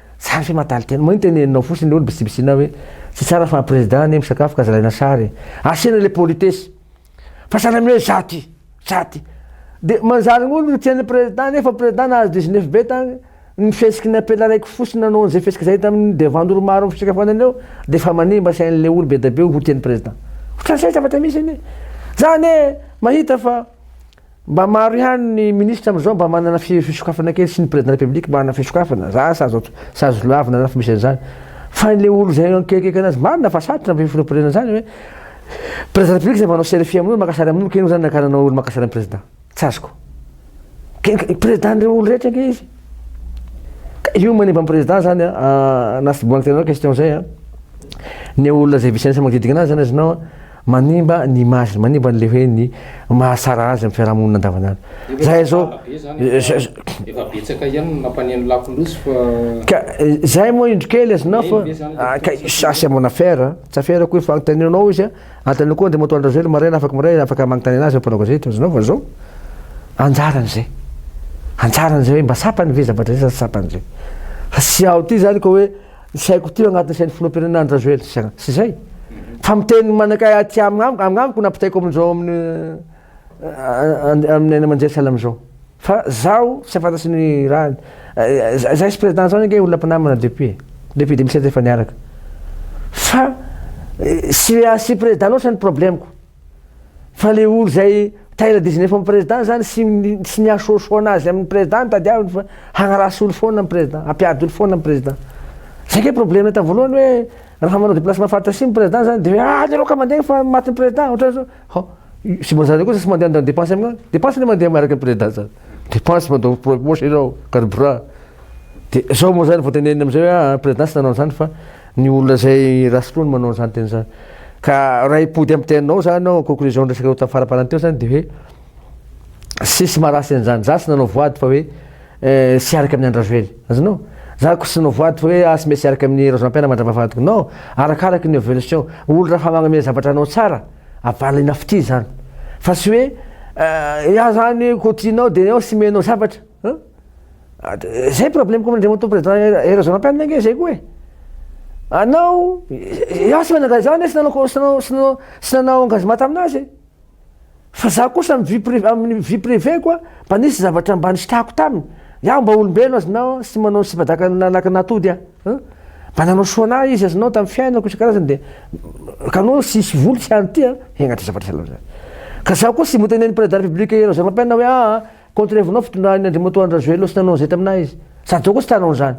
Tsara fe mataly tena. Maninona teneninao fotsiny leolo bisibisinao hoe tsy tsara fa président anie misakafo ka zalaina sary e. Asiana le politesse. Fa sahala amin'ny hoe za ty, za ty. De manjary ngo no tian'ny président nefa président nahazo dix neuf be tany, ny fihesiky ny apela raiky fotsiny nanao an'izay fihesika zay tamin'ny devant olo maro amin'ny fisakafoanana eo de efa manimba sain'ny le olo be dia be ho tian'ny président. Otran'izay zavatra misy anie. Za anie mahita fa. Mba maro ihany ny ministra amin'izao mba manana fisokafana kely sy ny président de la république mba hanana fisokafana za asa azo tsy azo lavina na fa misy an'izany fa ilay olo zay akekikaiky anazy marina fa sarotra ny fireporeana an'izany hoe président de la république zay manao selfie amin'olo maka sary amin'olo k'inona zany nakarana olo maka sary amin'ny président tsy azoko ke président n'ireo olo rehetra ange izy ka io manimba ny président zany a na tsy bohan'ny tenanao question zay a ny olona zay vice ministre manodidina anazy zany azonao Manimba ny image-ny, manimba an'ilay hoe ny mahatsara azy amin'ny fiarahamonina andavanandro. Izahay izao, Efa betsaka ihany ny mampaneno lakolosy fa. Ka izahay moa indro kely azonao fa, ka ça c'est mon affaire a! Tsy affaire-ko io fa anontanianao anao izy a! Anontanianao koa Andriamatoa Andry-Rajoelina maraina afaka maraina afaka magnontany anazy ny mpanao gazety, azonao fa izao anjarany izay. Anjarany izay hoe mba tsapany ve zavatra izay sa tsy tsapany izay. Fa tsy ao ity izany ka hoe. Tsy haiko teo agnatin'ny sain'ny filoham-pirenena Andry Rajoely sy sy izay. Fa miteny manakay aty amiko agnamiko nampitaiko amin'izao amin'ny amin'ny any aman-jery sahala amin'izao. Fa zaho tsy fantatro ny rahany. Zay sy président zany ange olona mpinamana depuis e. Depuis 2007 efa niaraka. Fa tsy sy président loatra ny problème-ko. Fa le olo zay taila diziny efa am president zany sy sy mihasoasoa anazy aminy president no tadiaviny fa hagnarasy olo foana ny president hampiady olo foana ny president zay nge probleme tam voalohany hoe raha manao deplacement faritra simo president zany de hoe ah alereo ka mandeha fa maty ny president otrany zao hao sy mba zany koa zay sy mandeha handany depense aminy any depense le mandeha miaraka am president zany depense mandao poche enao carburant de zao mo zany voateneniny amizay hoe ah president sy nanao anzany fa Ny olona izay rasotr'o no manao an'izany tena izany. Ka raha hipody amin'ny teninao izany aho, conclusion-ny resaka teo tamin'ny faraparany teo izany dia hoe tsisy maha ratsy an'izany. Izaho tsy nanao voady fa hoe tsy hiaraka amin'ny an-dRajoely. Azonao? Izaho koa tsy nanao voady fa hoe aho tsy mety hiaraka amin'i Razonampihana mandravavahadiko. Non! Arakaraka ny evolution. Olo raha fa magnome zavatra anao tsara, avalina fitia izany. Fa tsy hoe iah izany koa tianao dia ianao tsy omenao zavatra. Hein? Zay problème koa mandrimoto président Eros Rampianina nge zay koa e. Anao ianao tsy manangana izany sy nanao sy nanao sy nanao sy nanao engagement taminazy e. Fa za kosa amin'ny vie privée amin'ny vie privée ko mba nisy zavatra mba nisitrahako taminy. Iaho mba olombelona azy na tsy manao sipadaka naka natody a. Mba nanao soa anah izy azy nanao tamin'ny fiainako isan-karazany de ka anao tsy hisy vola tsy hany ty a. Hengatra zavatra sahala amizany. Ka za koa tsy voatery nen'ny président de la république Eros Rampianina hoe aa. Contre evo nao fitondran Andriamatoa Andry Rajoelina sy nanao an'izay taminah izy. Sady zao koa tsy tanao an'izany.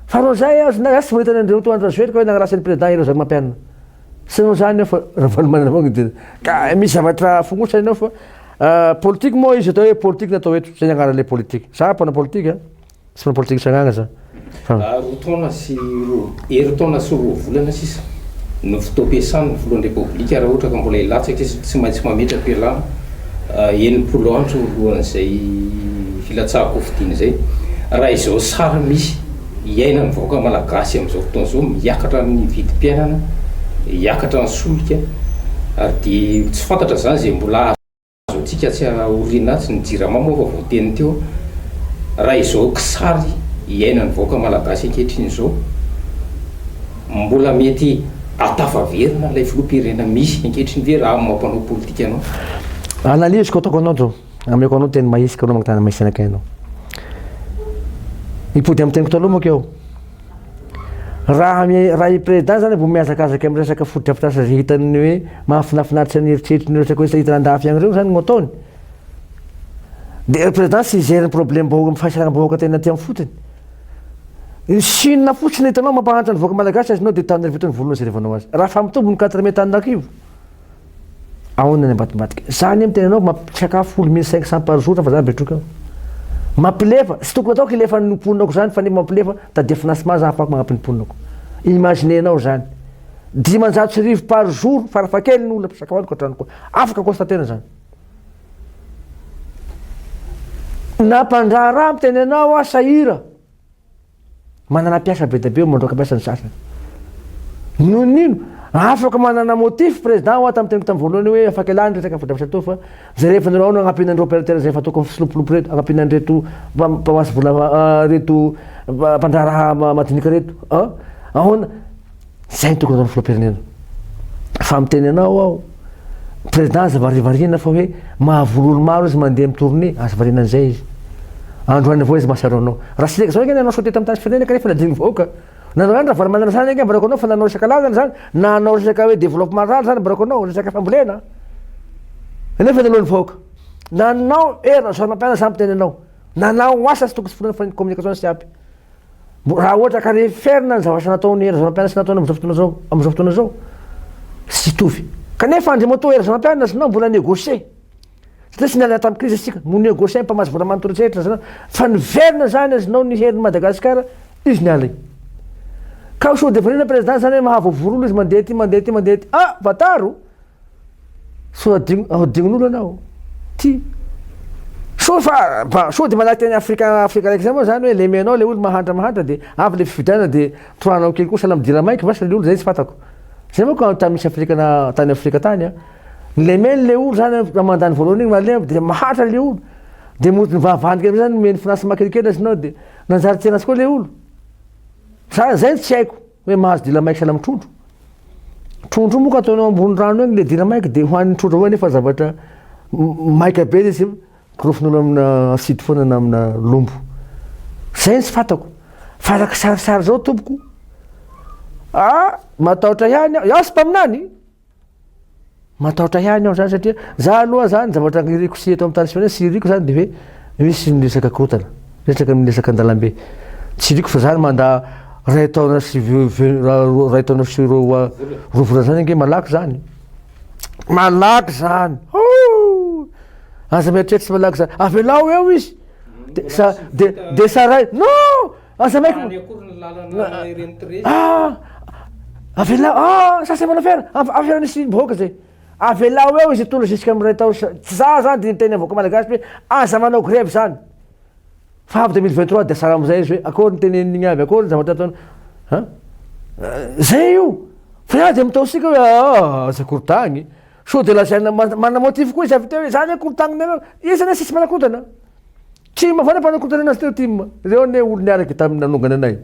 Fa anao izay aho zna tsy manita an'i Andriamatoa Andry Rajoelika hoe nagnaratsy an'i Président Hery Razamampianina. Tsy nanao izany aho fa Ravalomanana avao no nidina. Ka misy zavatra fognotsa enao fa politique moa izy atao hoe politique na atao eto, zay ny agnarany le politique. Zah mpanao politique a. Tsy mpanao politika tsangaga za fa. Roa taona sy roa, herintaona sy roa volana sisa no fotoam-piasan'ny Filohan'ny Repoblika raha ohatra ka mbola hilatsaka izy, tsy maintsy mametra-pialana enimpolo andro alohan'izay hilatsaham-pofidiny izay. Raha izao sary misy iainan'ny vahoaka malagasy amin'izao fotoana izao, miakatra ny vidim-piainana, hiakatra ny solika ary dia tsy fantatra izany izay mbola azo. Azontsika tsy aorina atsy ny jirama moa efa voateny teo raha izao kisary iainan'ny vahoaka malagasy ankehitriny izao mbola mety atafaverina ilay filoham-pirenena misy ankehitriny ve raha amin'ny maha mpanao politika anao? Analyse ko ataoko anao to, ameko anao teny mahisy ka anao mankatana mahisy anakay anao. Hipody amin'ny teniko taloha manko eo. Raha raha i Preda zany vao mihazakazaka miresaka fotodrafitrasa izay hitany ny hoe mahafinafinaritra ny eritreritry ny resaka hoe tsy ahitana andafy an'ireo zany no ataony. Dia Preda tsy hijery ny problème vahoaka amin'ny fahasalambahoaka tena aty amin'ny fotony. Ny Chine fotsiny hitanao mampahantra ny vahoaka malagasy azonao dia tany ry voto ny volony no jerevanao azy. Raha fa mitombo ny quatre mille tany lakrivo. Aona ny ambadimbadika? Za anie miteny anao mampisakafo folo mille cinq cents par jour fa za betroka eo. Mampilefa, tsy tokony ataoko hilefa ny mponako zany fa nefa mampilefa tadia finance ma za afako magnampy ny mponako. Imaginer nao zany. Dimanjato sy rivo par jour farafakely ny olona pisakafoanako atranoko. Afaka constater zany. Na mpandraharaha miteny anao aho sahira. Manana mpiasa be dia be eo mandroaka mpiasa ny sasany. Noho ny ino? Afaka manana motif président ho ahy tamin'ny teniko tamin'ny voalohany hoe afaka ialany resaka fotodrafitrasa toa fa jerevinareo ao no agnampiana an'ireo opérateur izay efa tokony fisilopilopy reto, agnampiana an'ireto mpamasy vola reto mpandraharaha madinika reto an! Ahoana? Izay no tokony hataon'ny filoham-pirenena. Fa miteny anao aho, président aza varivarina fa hoe mahavono olo maro izy mandeha mi-tourné, aza variana an'izay izy. Androany avao izy mahatsiaro anao. Raha sendra izao ange nanao saute tamin'ny tany firenena kanefa nadinon'ny vahoaka. Nanao ihany Ravalomanana zany ange barako anao fa nanao resaka lalana zany na hanao resaka hoe développement rural zany barako anao, resaka fambolena. Nefa naloan'ny vahoaka. Nanao hery Rajaonarimampianina zany miteny anao. Nanao asa tsy tokony tsy foronina fa ny communication tsy ampy. Raha ohatra ka referina ny zavatra nataon'i Hery Rajaonampianina sy nataony amin'izao fotoana izao, amin'izao fotoana izao, tsy hitovy. Kanefa Andriamatoa Hery Rajaonampianina sy nao mbola negocier. Satria tsy niala tamin'ny crise isika, no negocier ny mpamatsy vola manontolo tsy ahitra zany, fa niverina zany azy nao ny herin'i Madagasikara, izy niala iny. Ka ho sous-devenir-na président zany hoe mahavoavoro olo izy mandeha aty, mandeha aty, mandeha aty. Ah! Vataro! So hodign'olona anao ty. So fa so de manahaka ny Afrika Afrika raiky zay moa zany hoe lemenao le olo mahantra mahantra de avy le fifidianana de tohanao kely koa sahala midira maika vasa le olo zay tsy fantako. Zay manko an tany misy Afrika na tany Afrika tany an. Ny lemeny le olo zany an mandany voalohany igny malemy de mahantra le olo. De mody ny vahavahany kely amizay zany omeny financement kelikely azy nao de nanjary tianazy koa le olo. Za zay no tsy haiko. Hoe mahazo dila maika sahala amin'ny trondro. Trondro moa ka ataony ao ambony rano egny le dila maika dia hohanin'ny trondro avao nefa zavatra maika be le izy gorofin'olo amina acide foana na amina lombo. Zay ny tsy fantako. Fa araka sarisary zao tompoko, ah matahotra ihany aho, iaho tsy mpaminany, Matahotra ihany aho zany satria za aloha zany zavatra iriko sy eto amin'ny tany Espagnol sy iriko zany de hoe misy ny resaka korotana, resaka ny resaka an-dalambe. Tsy iriko fa zany mandà ray taona sy ray taona sy roa roa volana zany ange malaky zany. Malaky zany. Hoo! Aza mieritreritra tsy malaky zany. Avelao eo izy. De sa de de saraina. Non! Aza maiko. Any akory ny lalana ireny Trezy. Ah! Avela ah ça c'est mon affaire. Affaire nisy bohoka zay. Avela ho eo izy hitondra jusqu'à miray taona. Tsy za zany dia niteny vahoaka malagasy hoe aza manao grève zany. Fa avy 2023 dia sara amin'izay izy hoe akory ny teneniny avy akory ny zavatra ataony. Ha? Zay io. Fa ianao dia mitaosika hoe ah aza korontagny. Sao dia lazaina manana motif koa izy avy teo hoe zany hoe korontagninareo. Iza ne sisy manakorotana? Tsy mba fanapahan-korontana anazy teo tim. Reo anie olo niaraka tamin nanongana anay.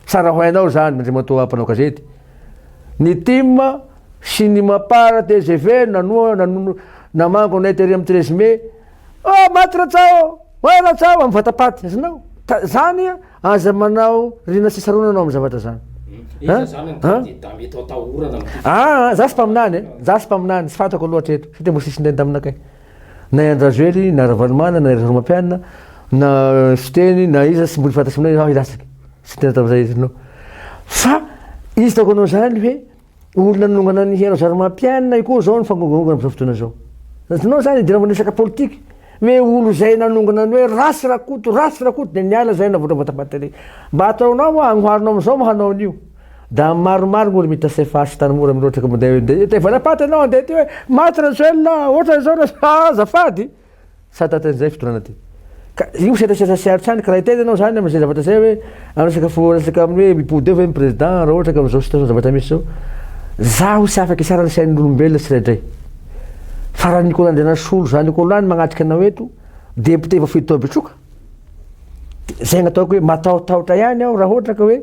Tsara ho hainao zany Andriamatoa mpanao gazety. Ny tim sy ny mapar tgv nanoa nanono namango anay tery am treize mai. Oh maty Ratsao ô! Oay Ratsao am vatapaty azonao. Ta zany aza manao rina sy sarona anao am zavatra zany. Iza zany ny kandida mety atahorana am ty fifidianana? Aa za tsy mpaminany e. Za tsy mpaminany tsy fantako loatra eto satria mbola tsisy ndeha ndaminakay. Na i Andrajoely, na Ravalomanana, na i Rasoalimampianina, na Siteny, na iza, tsy mbola fantatro aminao ianao hilatsaka. Tsy tena tamin'izay hevitra anao. Fa izy hitako anao izany hoe olona nanongana an'i Rasoalimampianina io koa izao ny fangongangongana amin'izao fotoana izao. Azonao izany idirana amin'ny resaka politika. Hoe olona izay nanongana ny hoe ratsy Rakoto, ratsy Rakoto dia niala izay navoatra voatabadika. Mba ataonao ahoana? Amboarinao amin'izao moa hanao an'io? Da maromaro gnolo mita cfh tanimora miloatra ka mndeh mndeh eo tevana paty anao andeha aty hoe maty rajoelina ohatran izao ra ha azafady sa tatin izay fitonana ty ka io setrasetra sy aritany ka raiteny anao zany amzay zavatra zay hoe am resaka fo resaka aminy hoe mipody eo ve ny president ra ohatra ka amzao situation zavatra misy zao zaho tsy afaka isara ny sainolombelona tsiraidray fa ra nikolo andrianasolo zany kolo any magnatrika anao eto député voafidy tao betroka de zay gnataoko hoe matahotahotra ihany aho ra ohatra ka hoe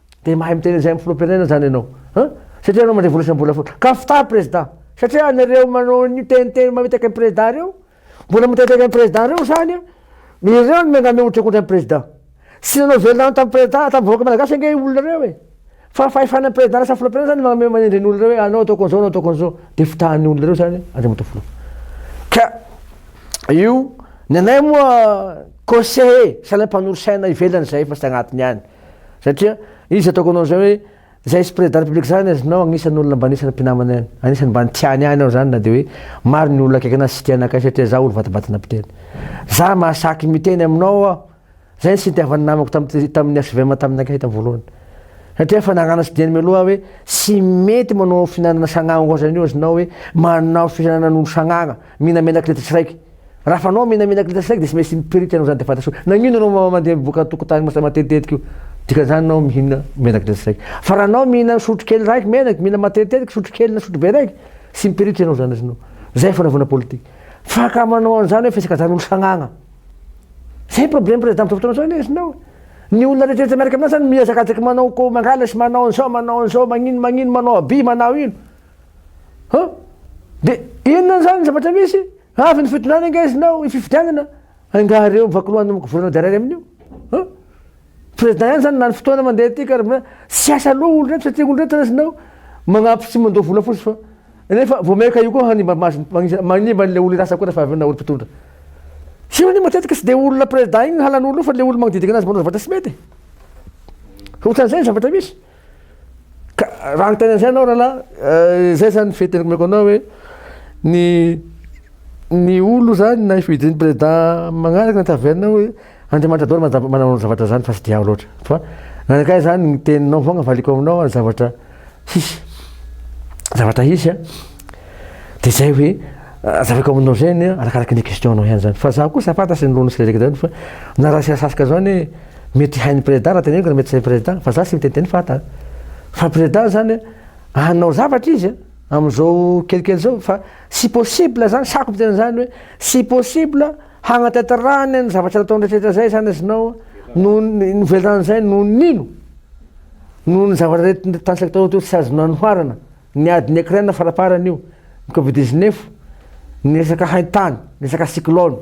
Dia mahay miteny an'izay amin'ny filoham-pirenena izany ianao an! Satria ianao mandray vola isam-bolafo. Ka fitahy prezda! Satria anareo manao an'io teniteny mamitaka an'i prezda ireo, mbola miteniteny an'i prezda ireo izany an! Ireo no miangavy mihotrakotra an'i prezda. Tsy nanao velona any tamin'ny prezda, tamin'ny vahoaka malagasy ange io olona ireo e! Fa fahefana an'i prezda lasa filoham-pirenena izany no mamehy manendry an'ny olona ireo hoe anao ataoko an'izao, anao ataoko an'izao. Dia fitahin'ny olona ireo izany Andriamatoa Filoha. Ka io, ny anay moa conseiller, sainam-panorosaina ivelan'izay fa tsy agnatiny any. Satria izy ataoko anao zay hoe zay esprit de la république zany azonao agnisany olona mba anisany mpinamana ihany anisany mba tiany ihany aho zany na de hoe maro ny olona akaiky anazy tsy tia anakay satria za olo vatabatana mpiteny za mahasaky miteny aminao aho zay ny sintiavany namako tam tamin'ny HVM taminy akay tam voalohany satria efa nagnano sy diany mialoha hoe tsy mety manao finanana sagnagna oazan'io azonao hoe manao fihinanana an'olo sagnagna Mihina menak'ilitra siraiky. Raha fanao mihina menak'ilitra siraiky dia tsy maintsy miperity ianao izany dia fantatra hoe nagnino ianao mandeha mivoaka an-tokotany masa matetitetika io. Dikan'izany ianao mihina menak'ilitra siraiky. Fa raha anao mihina sotro kely raiky menaky, mihina matetitetika sotro kely na sotro be raiky, tsy miperity ianao izany ianao. Izay fanaovana politika. Fa ka manao an'izany hoe fisakazahan'olo sagnagna. Izay ny problème président amin'izao fotoana izao anie iznao. Ny olona rehetrarehetra miaraka amin'azy izany mihazakazaky manao ko mangala sy manao an'izao manao an'izao magnino magnino manao aby manao ino. Huh? Dia inona izany ny zavatra misy? Avy ny fitondrana ange izy nao ny fifidianana, angaha ireo mivakilohan'ny governemanta iray iray amin'io? Huh? Président ihany izany lany fotoana mandeha aty ka tsy asa loha olo reto satria olo reto na izy nao magnampy sy mandoa vola fotsy fa nefa vao maika io koa hanimba maso manimba an'ilay olo irasa koa rehefa avy eo na olo mpitondra. Tsy io anie matetika tsy dia olona président igny halan'olo io fa le olo magnodidina azy manao zavatra tsy mety. Ohatran'izay ny zavatra misy. Ka raha ny tena izay anao rahalahy, eh, izay zany fety rekomeko anao hoe ny ny olo zany na hifidy ny prezida magnaraka ny taverne hoe Andriamanitra daholo manjava- manao ny zavatra zany fa tsy diaho loatra. Fa nankay zany ny teninao fogna valiko aminao ny zavatra hisy zavatra hisy a de zay hoe azavako aminao zay ny arakaraky ny question nao ihany zany fa za kosa fantatry ny loniny sy le raiky zany fa na raha sasasaka zao anie Mety hain'ny président raha teneniko na mety tsy hain'ny président fa za tsy miteniteny fa ata fa président zany hanao zavatra izy amin'izao kelikely zao fa tsy possible zany sako miteny an'izany hoe tsy possible hagnatatrahany ny zavatra nataony rehetrarehetra zay zany izy nao noho ny novelany zay noho ny nino noho ny zavatra rehetra tanisaiko tao teo tsy azo nanoharana ny adin'i Ukraine faraparany io ny covid dix-neuf ny resaka haintany ny resaka cyclone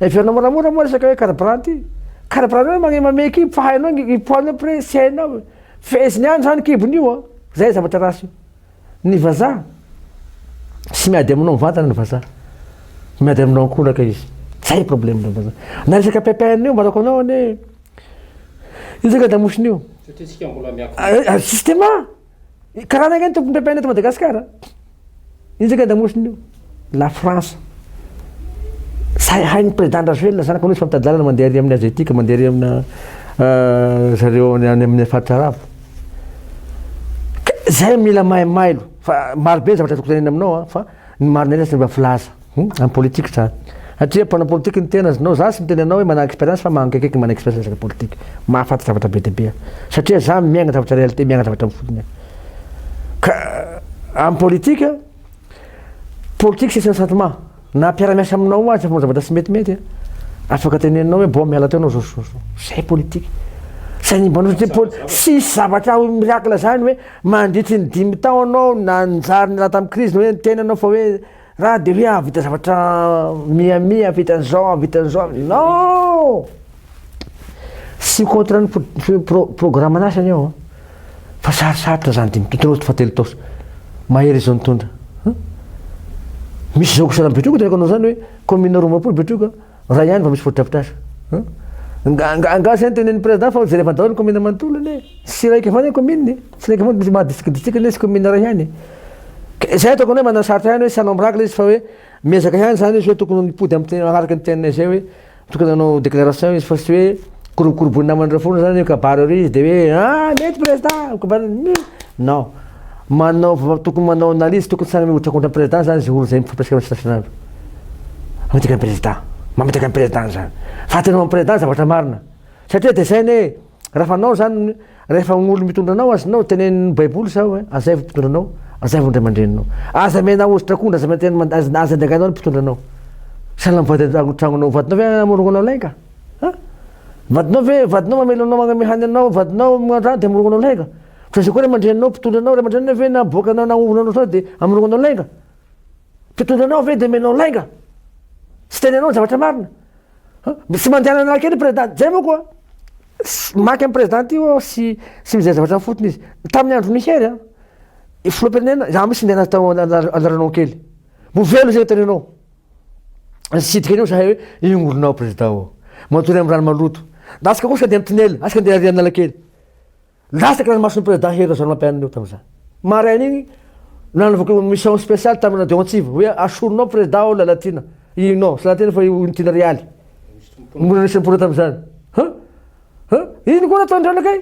Heverina moramora moa resaka hoe carburant ity. Carburant hoe magnemamey kibo fa hainao ny poids nao pre tsy hainao e. Feheziny ihany zany kibony io a. Zay zavatra ratsy io. Ny vazaha tsy miady aminao mivantana ny vazaha. Miady aminao ankolaka izy. Zay problème ny vazaha. Na resaka PPN io mbarako anao anie. Io zaka damosin'io. Satria tsika mbola miakatra. Justement. Karana ange ny tompony mpiampaina eto Madagasikara. Inona ange damosiny io? La France. Sahy hain'ny président Rajoelina zany koa izy fa mitady lalana mandeha ary amin'ny asiatique, mandeha ary amina euh, zareo any amin'ny faritra arabo. Zay mila mailo fa maro be zavatra tokony tanina aminao fa Ny marina eto tsy mba filaza amin'ny politique za satria mpanao politique ny tena znao za tsy miteny anao hoe manana expérience fa mankaiky manana expérience resaka politique mahafantatra zavatra be dia be aho satria za miaigna zavatra réalité miaigna zavatra amin'ny fotony aho ka amin'ny politique politique c'est un sentiment na mpiara-miasa aminao aza manao zavatra tsy metimety a afaka teneninao hoe bon miala teo anao zao zao zao zay politique tsy animbanao satria poli- tsisy zavatra miracle zany hoe Mandritry ny dimy taona aho nanjary niala tamin'ny krizy hoe ny tenanao fa hoe raha dia hoe hahavita zavatra mihamia, hahavita an'izao, hahavita an'izao, non! Tsy contre ny programme-nao izany aho an! Fa sarosarotra izany dimy taona, telo fahatelo taona, mahery izao nitondra. Misy izao kisanan'i Betroka tanako anao izany hoe commune roa ambiroapolo Betroka. Raha ihany vao misy fotodrafitrasa. Nga nga zay no tenen'ny président fa hojerevana daholo ny commune manontolo anie. Tsy iraika avao anie ny commune e. Tsy iraika avao maha district district anie tsy commune iray ihany e. Zay ataoko aminay manao sarotra ihany hoe tsy hanao miracle izy fa hoe miezaka ihany zany izy hoe tokony ho nipody am araka ny teninay zay hoe tokony hanao déclaration izy fa tsy hoe korobokoroboin'ny naman'ireo foana zany hoe kabary ery izy de hoe ah mety président ho kabariny non. Manao tokony manao analyse tokony tsara mihotra contre président zany zay olo zay mifampiresaka am sitafinaandro mamitaka am président mamitaka am président zany fa atereo am président zavatra marina satria de zay anie rafa anao zany refa olo mitondra anao azonao tenenin baiboly zao hoe azaivo mpitondra anao azaivo ndray amandreninao aza amena ozy trakondra aza amena aza andraganao ny mpitondra anao sahala am vady am tragnonao vadinao ve amorogno anao lainga an vadinao ve vadinao mamely anao magname hany anao vadinao magnano raha de amorogno anao lainga Fa izay koa ray aman-dreny anao mpitondra anao, ray aman-dreny anao ve naboaka anao nahovona anao sao dia amorongo anao lainga? Mpitondra anao ve dia menao lainga? Tsy teny anao ny zavatra marina. Tsy mandehana anaraka eny président, zay moa koa maika ny président io aho sy sy mizay zavatra ny fotony izy. Tamin'ny andron'ny hery an, filoham-pirenena, za misy ndeha natao andaranao kely. Mbo velo izay teny anao. Nisidika an'io zahay hoe ingorinao président o. Matory amin'ny rano maloto. Asika kosa dia amin'ny tinel, asika ndeha ary an'Analakely. Latsaka ranomason'ny Prezidà Hery Rajaonarimampianina io tamin'izany. Maraina iny, nanavaka io mission spéciale tamin'ny Radio Antsiva, hoe asorinao Prezidà ao Lalatiana, inona? Tsy Lalatiana fa io Unité-n'i Realy. Mbola nisy nipona tamin'izany. Huh? Huh? Iny koa nataon'i Ranakay.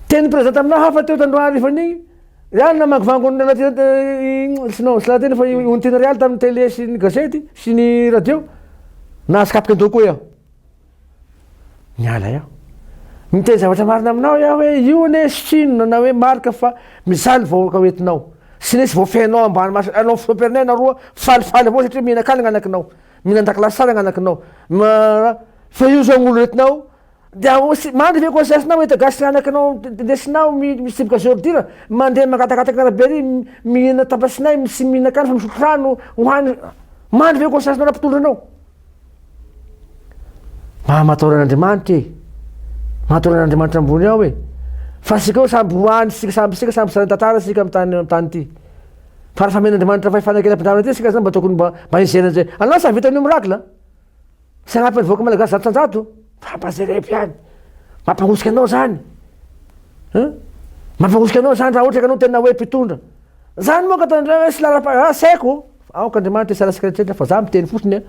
Tenin'ny Prezidà taminà hafa teo tandroany harivan'iny, Iany namangovango an'i Lalatiana, tsy non, tsy Lalatiana fa i Unité-n'i Realy tamin'ny télé sy ny gazety sy ny radio. Nahazo kapoka an-doha koa aho. Miala aho. Miteny zavatra marina aminao aho hoe io anie sy inona na hoe marika fa mijaly ny vahoaka hoentinao. Sy nisy voafehinao ambany mason'ny lalao filohampirenena ianao roa falifaly avao satria mihinan-kanina ny anakinao, mihinan-dakilasy tsara ny anakinao. Fa io zao ny olona entinao dia mandry ve conscience-nao hoe eto gasy anakinao ndesinao mitsiboka zéro dire, mandeha mangatakataka ny arabe ery mihinana tapasinay sy mihinan-kanina fa misotro rano hohanina. Mandry ve conscience-nao na mpitondra anao? Mba mataora an'Andriamanitra e. Mataora an'Andriamanitra ambony ao e. Fa sika samby ho any sika samby sika samby sary tantara sika amin'ny tany amin'ny tany ity. Fa raha famen'Andriamanitra fay fanekena-pindramana ity sika zany mba tokony mba mba hizera an'izay. Anao sa vitan'io miracle? Tsy hanampy ny vahoaka malagasy zato tanjato? Fampazerepo ihany. Mampahosika anao zany. Hein? Mampahosika anao zany raha ohatra ka anao tena hoe mpitondra. Zany moa ka tandreo hoe sy lalam-pa- ah, saiko. Aoka Andriamanitra hisaraka antsika rehetra fa za miteny fotsiny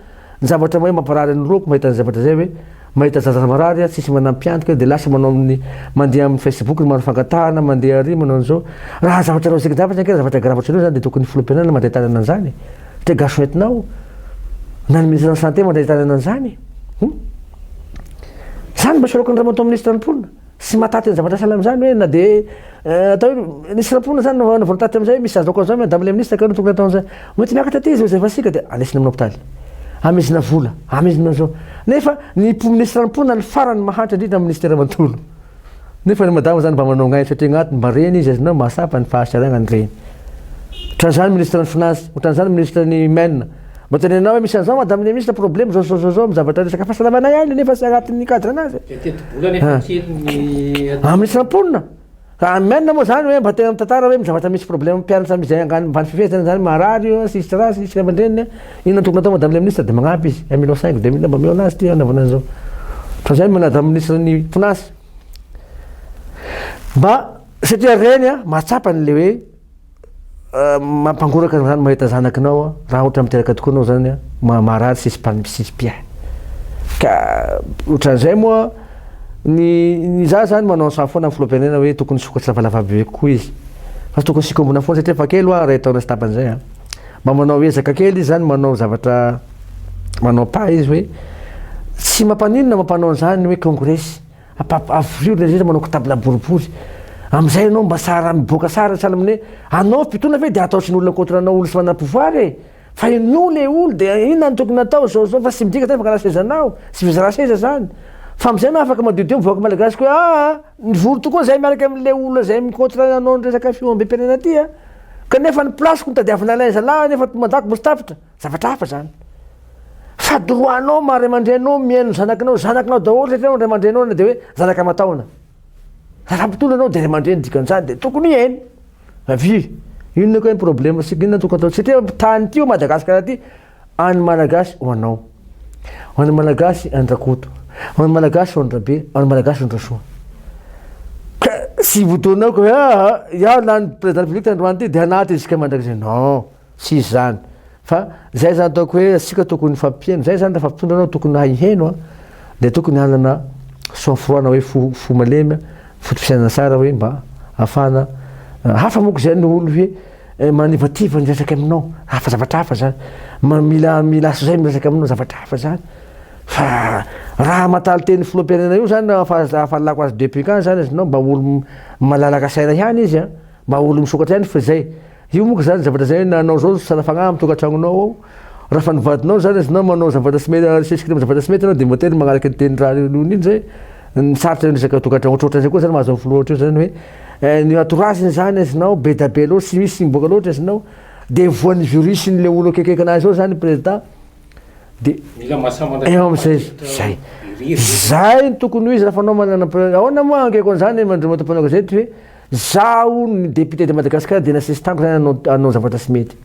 ny zavatra mahay mamparary ny roako mahita an'izay zavatra izay hoe mahita zaza marary a tsisy manampy antoka de lasa manao amin'ny mandeha amin'ny facebook ny maro fangatahana mandeha ary manao an'izao raha zavatra logique dafa zany ka zavatra grave ohatran'io zany de tokony ny filoham-pirenena mandray tanana an'izany satria gasy ho entinao na ny ministre ny santé mandray tanana an'izany hum zany mba soloiko an'Andriamatoa ministre ny mponina Tsy mahataty ny zavatra sahala amin'izany hoe na dia atao hoe nisy nampoina izany no navoana taty amin'izay, misy azo ankoan'izany Madame le Ministre kay no tokony atao an'izany. Mety miakatra aty izy rehefa efa siaka dia andraisina amin'ny hopitaly. Hamezina vola, hamezina izao. Nefa ny mpo Ministra nampoina ny farany mahantra indrindra amin'ny Ministera manontolo. Nefa ny Madama izany mba manao ngaina satria agnaty mba reny izy azonao mahatsapa ny fahasaragna ny reny. Otran'izany Ministran'ny Finances, otran'izany Ministran'ny Men, Mba tenenao hoe misy an'izao madame le ministre problème zao zao zao zao amin'ny zavatra resaka fahasalamanay any nefa tsy agnatin'ny cadre anazy. Dia tetibola nefa ah. kely ny atao. Amin'ny samponina. Ka amen moa zany hoe mba tena mitantara hoe mizavatra misy problème mpianatra amin'izay angano mivany fifehezana zany marary io sisy raha sisy ray aman-dreniny inona tokony atao madame le ministre dia magnampy izy un million cinq deux million mba mihaona azy ty anaovana an'izao. Fa zay manadra ministre ny finance. Mba satria reny a mahatsapa an'le hoe Mampangoraka ny rano mahita zanakinao raha ohatra miteraka tokoa ianao zany maha marary sy spalmcpia ka otran'izay moa ny ny za zany manao saha foana ny filoham-pirenena hoe tokony sokatra lavalava be kokoa izy fa tsy tokony sikombona foana satria efa kely hoa iray taona sy tapany zay an mba manao ezaka kely izy zany manao zavatra manao pas izy hoe tsy mampaninona mampanao an'izany hoe kongresy Ampahafirivo ilay rehetra manao kitabla boribory. Amin'izay ianao mba sahara miboaka sahara sahala amin'ny hoe anao mpitondra ve dia ataotry ny olona contre anao olona tsy manana pouvoir e! Fa ianao ilay olona dia inona no tokony atao izao izao fa tsy midika izany fa karaha seza anao, tsy fizarana seza izany. Fa amin'izay ianao afaka madiodio ny vahoaka malagasy koa hoe aa nivory tokoa izay miaraka amin'ilay olona izay mi-contre anao ny resaka filoham-be-pirenena ity a! Kanefa ny place-ko no tadiavina ilay zalahy nefa toa mandako misy tapitra. Zavatra hafa zany. Fa droit anao maha ray aman-drenao mihaino ny zanakinao, zanakinao daholo satria ianao ray aman-drenao na dia hoe zanaka aman-taona. Raha mpitondra anao dia ray aman-dreny dikan'izany dia tokony hihaino. Avia, inona koa ny problème sika inona tokony atao satria tany ity ho Madagasikara ity an'ny Malagasy ho anao. Ho an'ny Malagasy an-dRakoto, ho an'ny Malagasy ho an-dRabe, ho an'ny Malagasy ho an-dRasoa. Ka tsy votoanao ka hoe ah, ah iao lany président de la République tandroany ity dia anaty isika mandrakizay. Non. Tsisy zany. Fa zay zany ataoko hoe asika tokony hifampiheno. Zay zany refa mpitondra anao tokony hahay hiheno a. De tokony hanana sang froid na hoe fo fo malemy a, foto fisainana tsara hoe mba afahana hafa moko zay ny olo hoe manivativa miresaka aminao hafa zavatra hafa zany. Ma mila mila aso zay miresaka aminao zavatra hafa zany. Fa raha hamataly teny filohampirenena io zany afa afa alako azy depuis quand zany izy nao mba olo malalaka saina ihany izy a. Maha olona misokatra ihany fa izay. Io monka izany zavatra izay nanao izao sala fagnahy amin'ny tokantragnonao ao. Raha fa ny vadinao izany izy na manao zavatra tsy mety asesika amin'ny zavatra tsy mety ianao dia mba tena magnaraka ny tenin'ny raha nony iny izay. Ny sarotra ny resaka tokantragno ohatrohatry izay koa izany mahazo ny filoha ohatry io izany hoe ny entourage-ny izany azonao be da be loatra tsy misy miboaka loatra azonao dia voan'ny virus ny le olona akekeka anazy ao izany prezida dia Mila masamana eo amin'izay izy. Izay. Izay no tokony ho izy raha fa anao manana, ahoana moa angeko an'izany mandromatom-panao gazety hoe. Zaho ny député de Madagascar dia nasesitàniko zany hanao hanao zavatra tsy mety.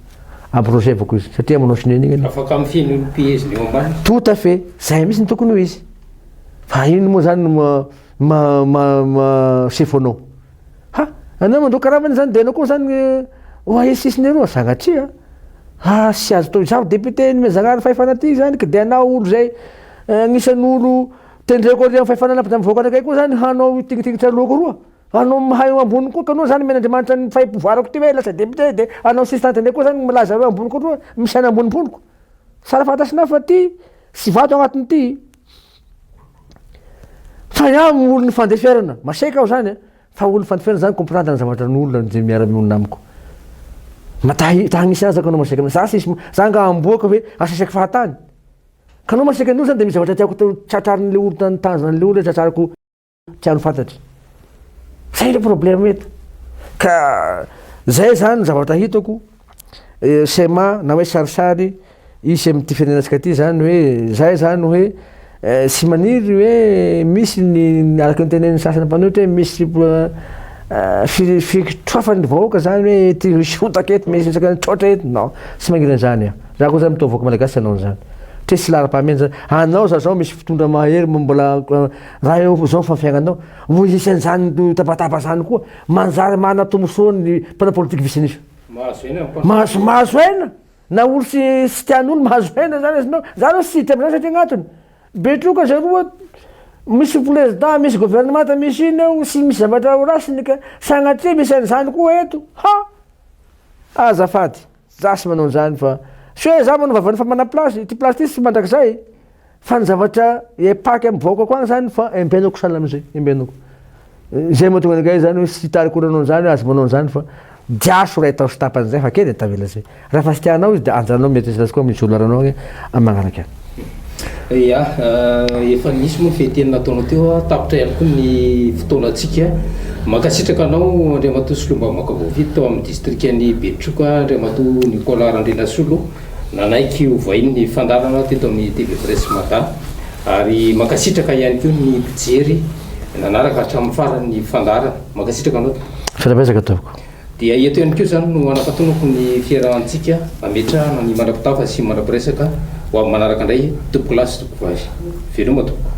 Abrogevako izy satria manao sonia an'iny ianao. Afaka mifehy ny olom-peheziny eo ambany. Tout à fait. Zay mihitsy no tokony ho izy. Fa inona moa zany no ma ma ma sefo anao. Ha! Anao mandao karama zany dia ianao koa zany oahe sisy ny eroa. Sanatria a! Ah tsy azo atao. Izaho député ny Zagnahary fahefana ty zany ka dia anao olo zay agnisan'olo tendreko ary amin'ny fahefana nampy zany vahoaka anakay koa zany hanao io tignitignitr'aloako roa. Anao mahay eo ambony koa kanao zany omen'Andriamanitra ny fahim-povoarako ty hoe lasa député de anao sista tendrey koa zany milaza hoe ambony koa misaina ambony poloko. Sara fantasinao fa ty tsy vato agnatiny ty. Fa iaho olo ny fandeferana, maseka aho zany eh. Fa olo fandeferana zany comprendre ny zavatra ny olona ze miara-mionona amiko. Ma ta ta hagnisa azy kanao maseka za sisy za nga amboaka hoe aseseko fahatany. Kanao maseka ny olo zany de misy zavatra tiako tratrarin'le olo tan tanjona an'le olo tratrariko. tiany fantatra. Zay le problème eto. Ka zay zany ny zavatra hitako eh, schéma na hoe sarisary hisy amin'ity firenenantsika ty zany hoe zay zany hoe eh, tsy maniry hoe misy ny araka ny tenen'ny sasany mpanohitra hoe misy eh, fi- fikitroafan'ny vahoaka zany hoe ety misy hotaka ety misy resaka nitroatra ety non tsy magniry an'izany aho raha koa zany mitoa vahoaka malagasy tsy hanao an'izany tresy laharam-pahamehana zany anao za zao misy fitondra mahery mbola Raha eo amin'izao fa fiainanao no isan'izany tabataba izany koa, manjary manana tombontsoa ny mpanao politika vitsy an'isa. Mahazo aina ny mpanao politika. Mahazo aina! Na olo tsy tsy tian'olo mahazo aina zany izy nao. Za zao tsy tia amzany satria gnatony, be troka zay roa, misy president, misy governemanta, misy ino eo, tsy misy zavatra ho rasiny ka, sagnatria misy an'izany koa eto, ha! Azafady. Zas manao an'izany fa tsy hoe za manao vavany fa mana place, ity place ity tsy mandrakizay fa ny zavatra epaky am vahoakako any zany fa embenako sahala amzay, embenako. Zay mahatonga anakay zany hoe tsy hita akory anao zany hoe aza manao an'izany fa diaso ray tao sy tapany zay fa kely e tavela zay. Raha fa tsy tianao izy de ajanao mieritreritra azy koa amin'ny jour laranao agny am magnaraka agny. Ia, efa nisy moa ny fehiteny nataonao teo, tapitra ihany koa ny fotoanantsika. Mankasitraka anao Andriamatoa Solombavambahoaka voafidy tao amin'ny distrikan'i Betroka Andriamatoa Nicolas Randrianasolo nanaiky hovahiny ny fandaharana teto amin'ny TV Presse Mada ary mankasitraka ihany koa ny mpijery nanaraka hatramin'ny farany ny fandaharana. Mankasitraka anao tompoko. Fanabeazana ataoko. Dia eto ihany koa izany no hanampatonako ny fiarahantsika hametrahana ny mandra-pitafa sy mandra-piresaka ho amin'ny manaraka indray tompokolahy sy tompokovavy. Veloma tompoko.